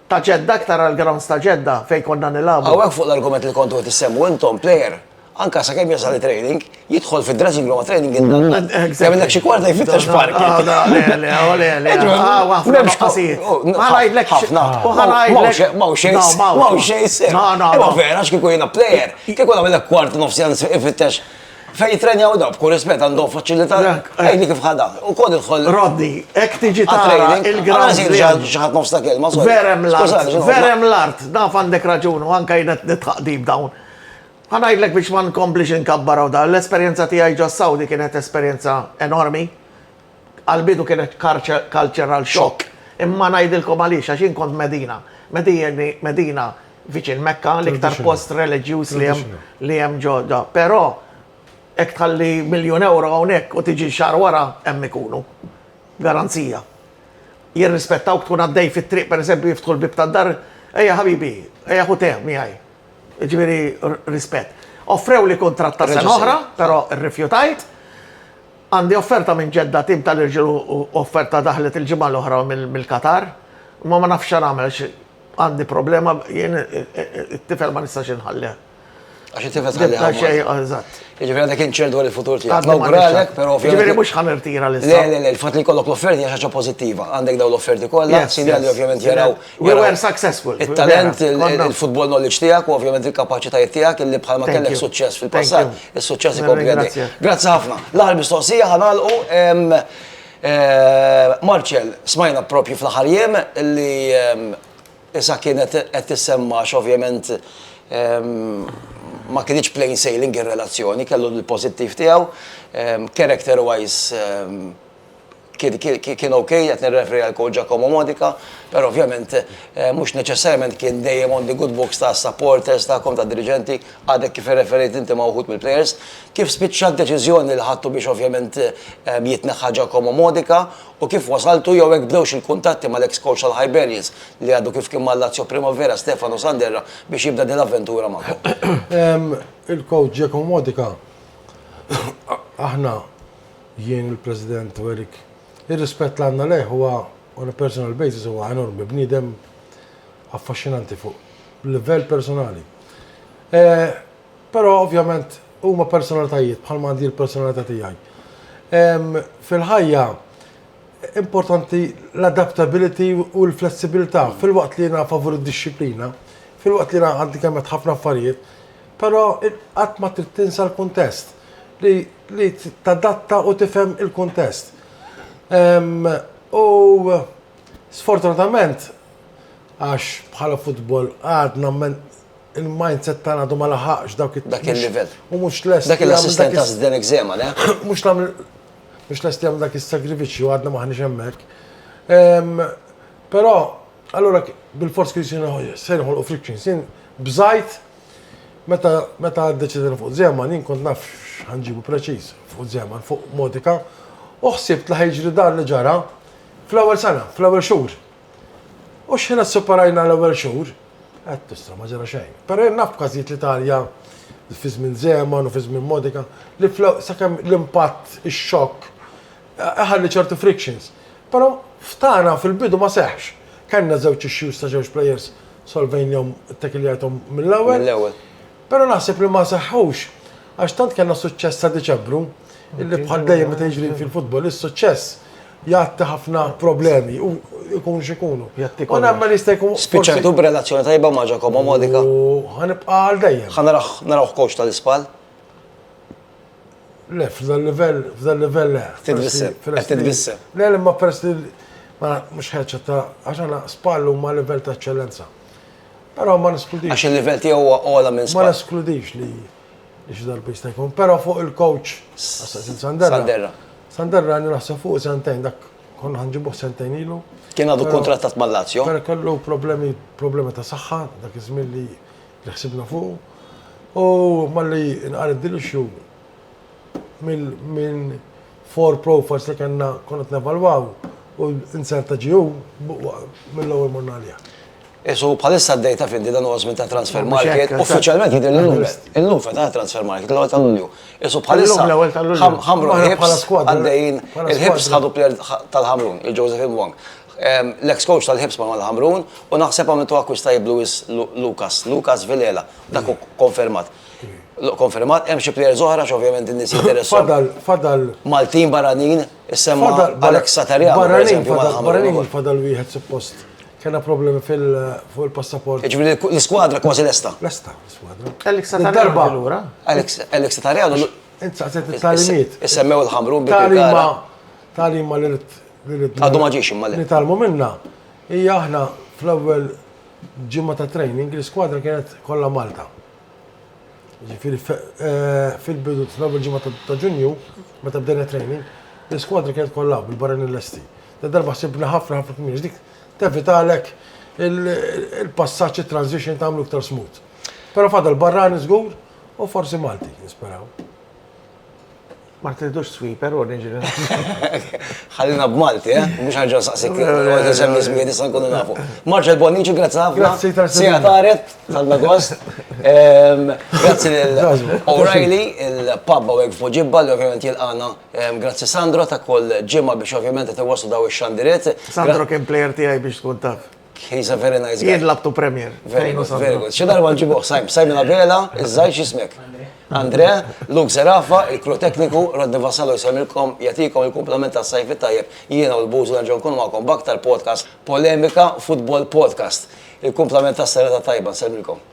Ta' Ġedda, iktar għall-grounds ta' Ġedda fejn konna nilagħbu. Hawnhekk fuq l-argument li kontu qed issemmu intom, player, anke sakemm jasal it-training, jidħol fid-dressing room għat-training indannat. Kemm innek xi kwarta jfittex parking. O le, o le, o le, le. Hawn ħafna nuqqasijiet. Ma ngħidlekx. Ħafna. U ħa ngħidlek. M'hawn xejn. No, m'hawn. M'hawn xejn. No, no, no. Imma vera, x'kieku jiena player, kieku nagħmilek kwarta nofs jans ifittex. Fejn jittrenjaw dawn, b'kull rispett għandhom faċilità. Għidni kif ħa dan. U kod idħol. Rodni, hekk tiġi tara il-ground. Xi ħadd nofs ta' kelma. Verem l-art. Verem l-art. Naf għandek raġun u anke jien qed nidħaq deep down. Ħa ngħidlek biex ma nkomplix inkabbar hawn dan. L-esperjenza tiegħi ġo s-Sawdi kienet esperjenza enormi. Għal bidu kienet cultural shock, imma ngħidilkom għaliex, għax jien kont Medina. Medina viċin Mekka, l-iktar post reliġjuż li hemm ġodda. Però jekk tħalli miljun ewro hawnhekk u tiġi xahar wara, hemm ikunu. Garanzija. Jirrispettawk tkun għaddej fit-triq, pereżempju jiftħu l-bieb tad-dar, ejja ħabibi, ejja ħu te miegħi. Jiġifieri rispett. Offrewli kuntratt ta' sena oħra, però rrifjutajt. Għandi offerta minn Ġedda, tim tal-irġiel u offerta daħlet il-ġimgħa l-oħra mill-Qatar. Imma ma nafx x'nagħmel għax għandi problema, jien it-tifel ma nistax inħallih. Għax it-tifel tħallih hawn. Għax xejn, eżatt. Jiġifieri għandek inċert dwar il-futur tiegħek. Nawguralek, però ovvjament. Jiġifieri mhux ħa nirtira l-isem. Le, le, le, il-fatt li jkollok l-offerti hija xi ħaġa pożittiva. Għandek dawn l-offerti kollha, sinjali ovvjament jaraw. We were successful. Il-talent, il-football knowledge tijak, u ovvjament il-kapacitajiet tijak, illi bħalma kellek suċċess fil-passat, il-suċċess ikompli għaddi. Grazzi ħafna. L-aħħar mistoqsija ħanalqu. Marċel, smajna propju fl-aħħar jiem li issa kienet qed tissemma x'ovvjament ma kienx plain sailing ir-relazzjoni, kellu l-pożittiv tiegħu, character wise Kien ok, qed nirreferi għal Coach Giacomo Modica, però ovvjament mhux neċessarjament kien dejjem on the good books tas-supporters tagħkom, tad-diriġenti, għadek kif irreferejt inti ma' wħud mill-plejers. Kif spiċċat b'deċiżjoni li ħadtu biex ovvjament jitneħħa Giacomo Modica u kif wasaltu jew hekk bdewx il-kuntatti mal-eks coach tal-Hibernians li għadu kif kien mal-Lazio Primavera, Stefano Sanderra, biex jibda din l-avventura magħkom? Il-Coach Giacomo Modica aħna Jien il-President u Eric, ir-rispett li għandna lejh huwa on a personal basis huwa enormi, bniedem affaxxinanti fuq livell personali. Però ovvjament huma personalitajiet bħalma għandi l-personalità tiegħi. Fil-ħajja importanti l-adaptability u l-flessibilità filwaqt li jiena favur id-dixxiplina, filwaqt li jiena għandi kemm għedt ħafna affarijiet, Però qatt ma trid tinsa l-kuntest, li li tadatta u tifhem il-kuntest. U sfortunatament, għax bħala futbol għadna il-mindset tagħna għadu ma laħaqx dak it-, Dak il-livell. u mhux lest Dak il-assistent ta' Zdenek Zeman, eh? mhux tagħmel mhux lest jagħmel dak is-sagrifiċċju għadna m'aħniex hemmhekk. Però allura bilfors kienu se jinħolqu frictions. Jien b'żgħid. Meta meta ddeċidejna fuq Zeman, jien kont naf x'ħanġibu preċiż fuq Zeman, fuq Modica, u ħsibt li ħajġri dan li ġara fl-ewwel sena, fl-ewwel xhur. U xħin qed superajna l-ewwel xhur, qed tista' ma ġara xejn. Però jien naf każijiet l-Italja fi żmien Zeman u fi żmien Modica li sakemm l-impatt, ix-xokk Iħalli ċertu frictions. Però f'tagħna fil-bidu ma seħħx. Kellna żewġ issues ta' żewġ plejers solvejnihom, ittekiljajthom mill-ewwel. Mill-ewwel. Però naħseb li ma seħħux għax tant kellna suċċess sa Diċembru, illi bħal dejjem meta jiġri fil-futbol is-suċċess jgħatti ħafna problemi u jkunu x'ikunu. Jgħatti kollox. U nemmen jista' jkun. Spiċċajtu b'relazzjoni tajba ma' Ġakomo Modica. U ħanibqa' għal dejjem. Ħa naraħ, narawh coach tal-ispall. Le, f'dan livell, f'dan livell le. Qed titbissem. Le, le, ma peress li ma mhux ħeġġa ta' għax għana spallu ma livell ta' eċċellenza. Però ma neskludix. Għax il-livell tiegħu huwa ogħla minn spall. Ma neskludix li li xi darba jista' jkun, però fuq il-coach Sanderra. Sanderra. Sanderra għandi naħseb fuq sentejn dak konna ħanġibuh sentejn ilu. Kien għadu kontrattat mal-Lazio. Kellu problemi, problemi ta' saħħa dak iż-żmien li li ħsibna fuqu, u malli nqaret din l-issue minn four profiles li kellna konna nevalwaw u insert ta' GU mill-ewwel morna għaliha. Isu bħalissa d-dej ta' fiddi dan huwa żmien ta' transfer market, uffiċjalment jidher li llum. Illum fetaħ transfer market l-ewwel ta' Lulju. Isu bħalissa ħamru l-ħibs għaddejjin, il-ħibs ħadu player tal-Ħamrun, il-Joseph Ibwang. L-eks coach tal-Hibs Manol Ħamrun u naħseb għamiltu akkwist tajjeb Louis Lucas, Lucas Vilela, dak hu konfermat. Konfermat, hemm xi players oħra x'ovvjament in-nies jinteressu. Fadal, fadal. Maltin barranin, issemma Alex Satarja. Barranin, barranin, fadal wieħed suppost. Kena problemi fuq il-passaport. Ġviri, l-skwadra kważi l-esta. L-esta, l-skwadra. Alex Satarja l-ura. Alex Satarja l-ura. Insaqset il-talimiet. Issemmew il-ħamrun biex. Talima, talima l-irt Għadu ma ġiex imma le. Nitalmu minna, hija aħna fl-ewwel ġimgħa ta' training l-iskwadra kienet kollha Malta. Ġifieri eh, fil-bidu fl-ewwel ġimgħa ta' Ġunju meta bdejna training, l-iskwadra kienet kollha bil-barra l-esti. Da darba ħsibna ħafna ħafna kmiex dik tevitalek il-passaġġ it-transition tagħmlu iktar smooth. Però fadal barrani żgur u forsi Malti, nisperaw. Ma tridux sweeper u niġi Ħallina b'Malti, eh? Mhux ħaġa saqsik, għodin sem nismi nista' nkunu nafu. Marċel Bonnici, grazzi ħafna. Grazzi ta' sija taret, tal-nagost. Ehm, grazzi lil O'Reilly, il-pub għek fuġibba li ovvjament jilqana. Ehm, grazzi Sandro ta' kull ġimma biex ovvjament qed iwaslu daw ix-xandiriet. Sandro kien plejer tiegħi biex tkun taf. He's a very nice guy. Jien labtu premier. Very good, very good. Xi darba nġibuh Simon, Simon Abela, iż-żgħir x'ismek? Andre, Luke Zerafa, il-kru tekniku, Rodni Vassallo jsemilkom, jatikom il-komplement ta' sajfi tajjeb, jiena u l-buzu nerġgħu nkunu magħkom baktar podcast, polemika, football podcast. Il-komplement ta' serata tajba, nsemilkom.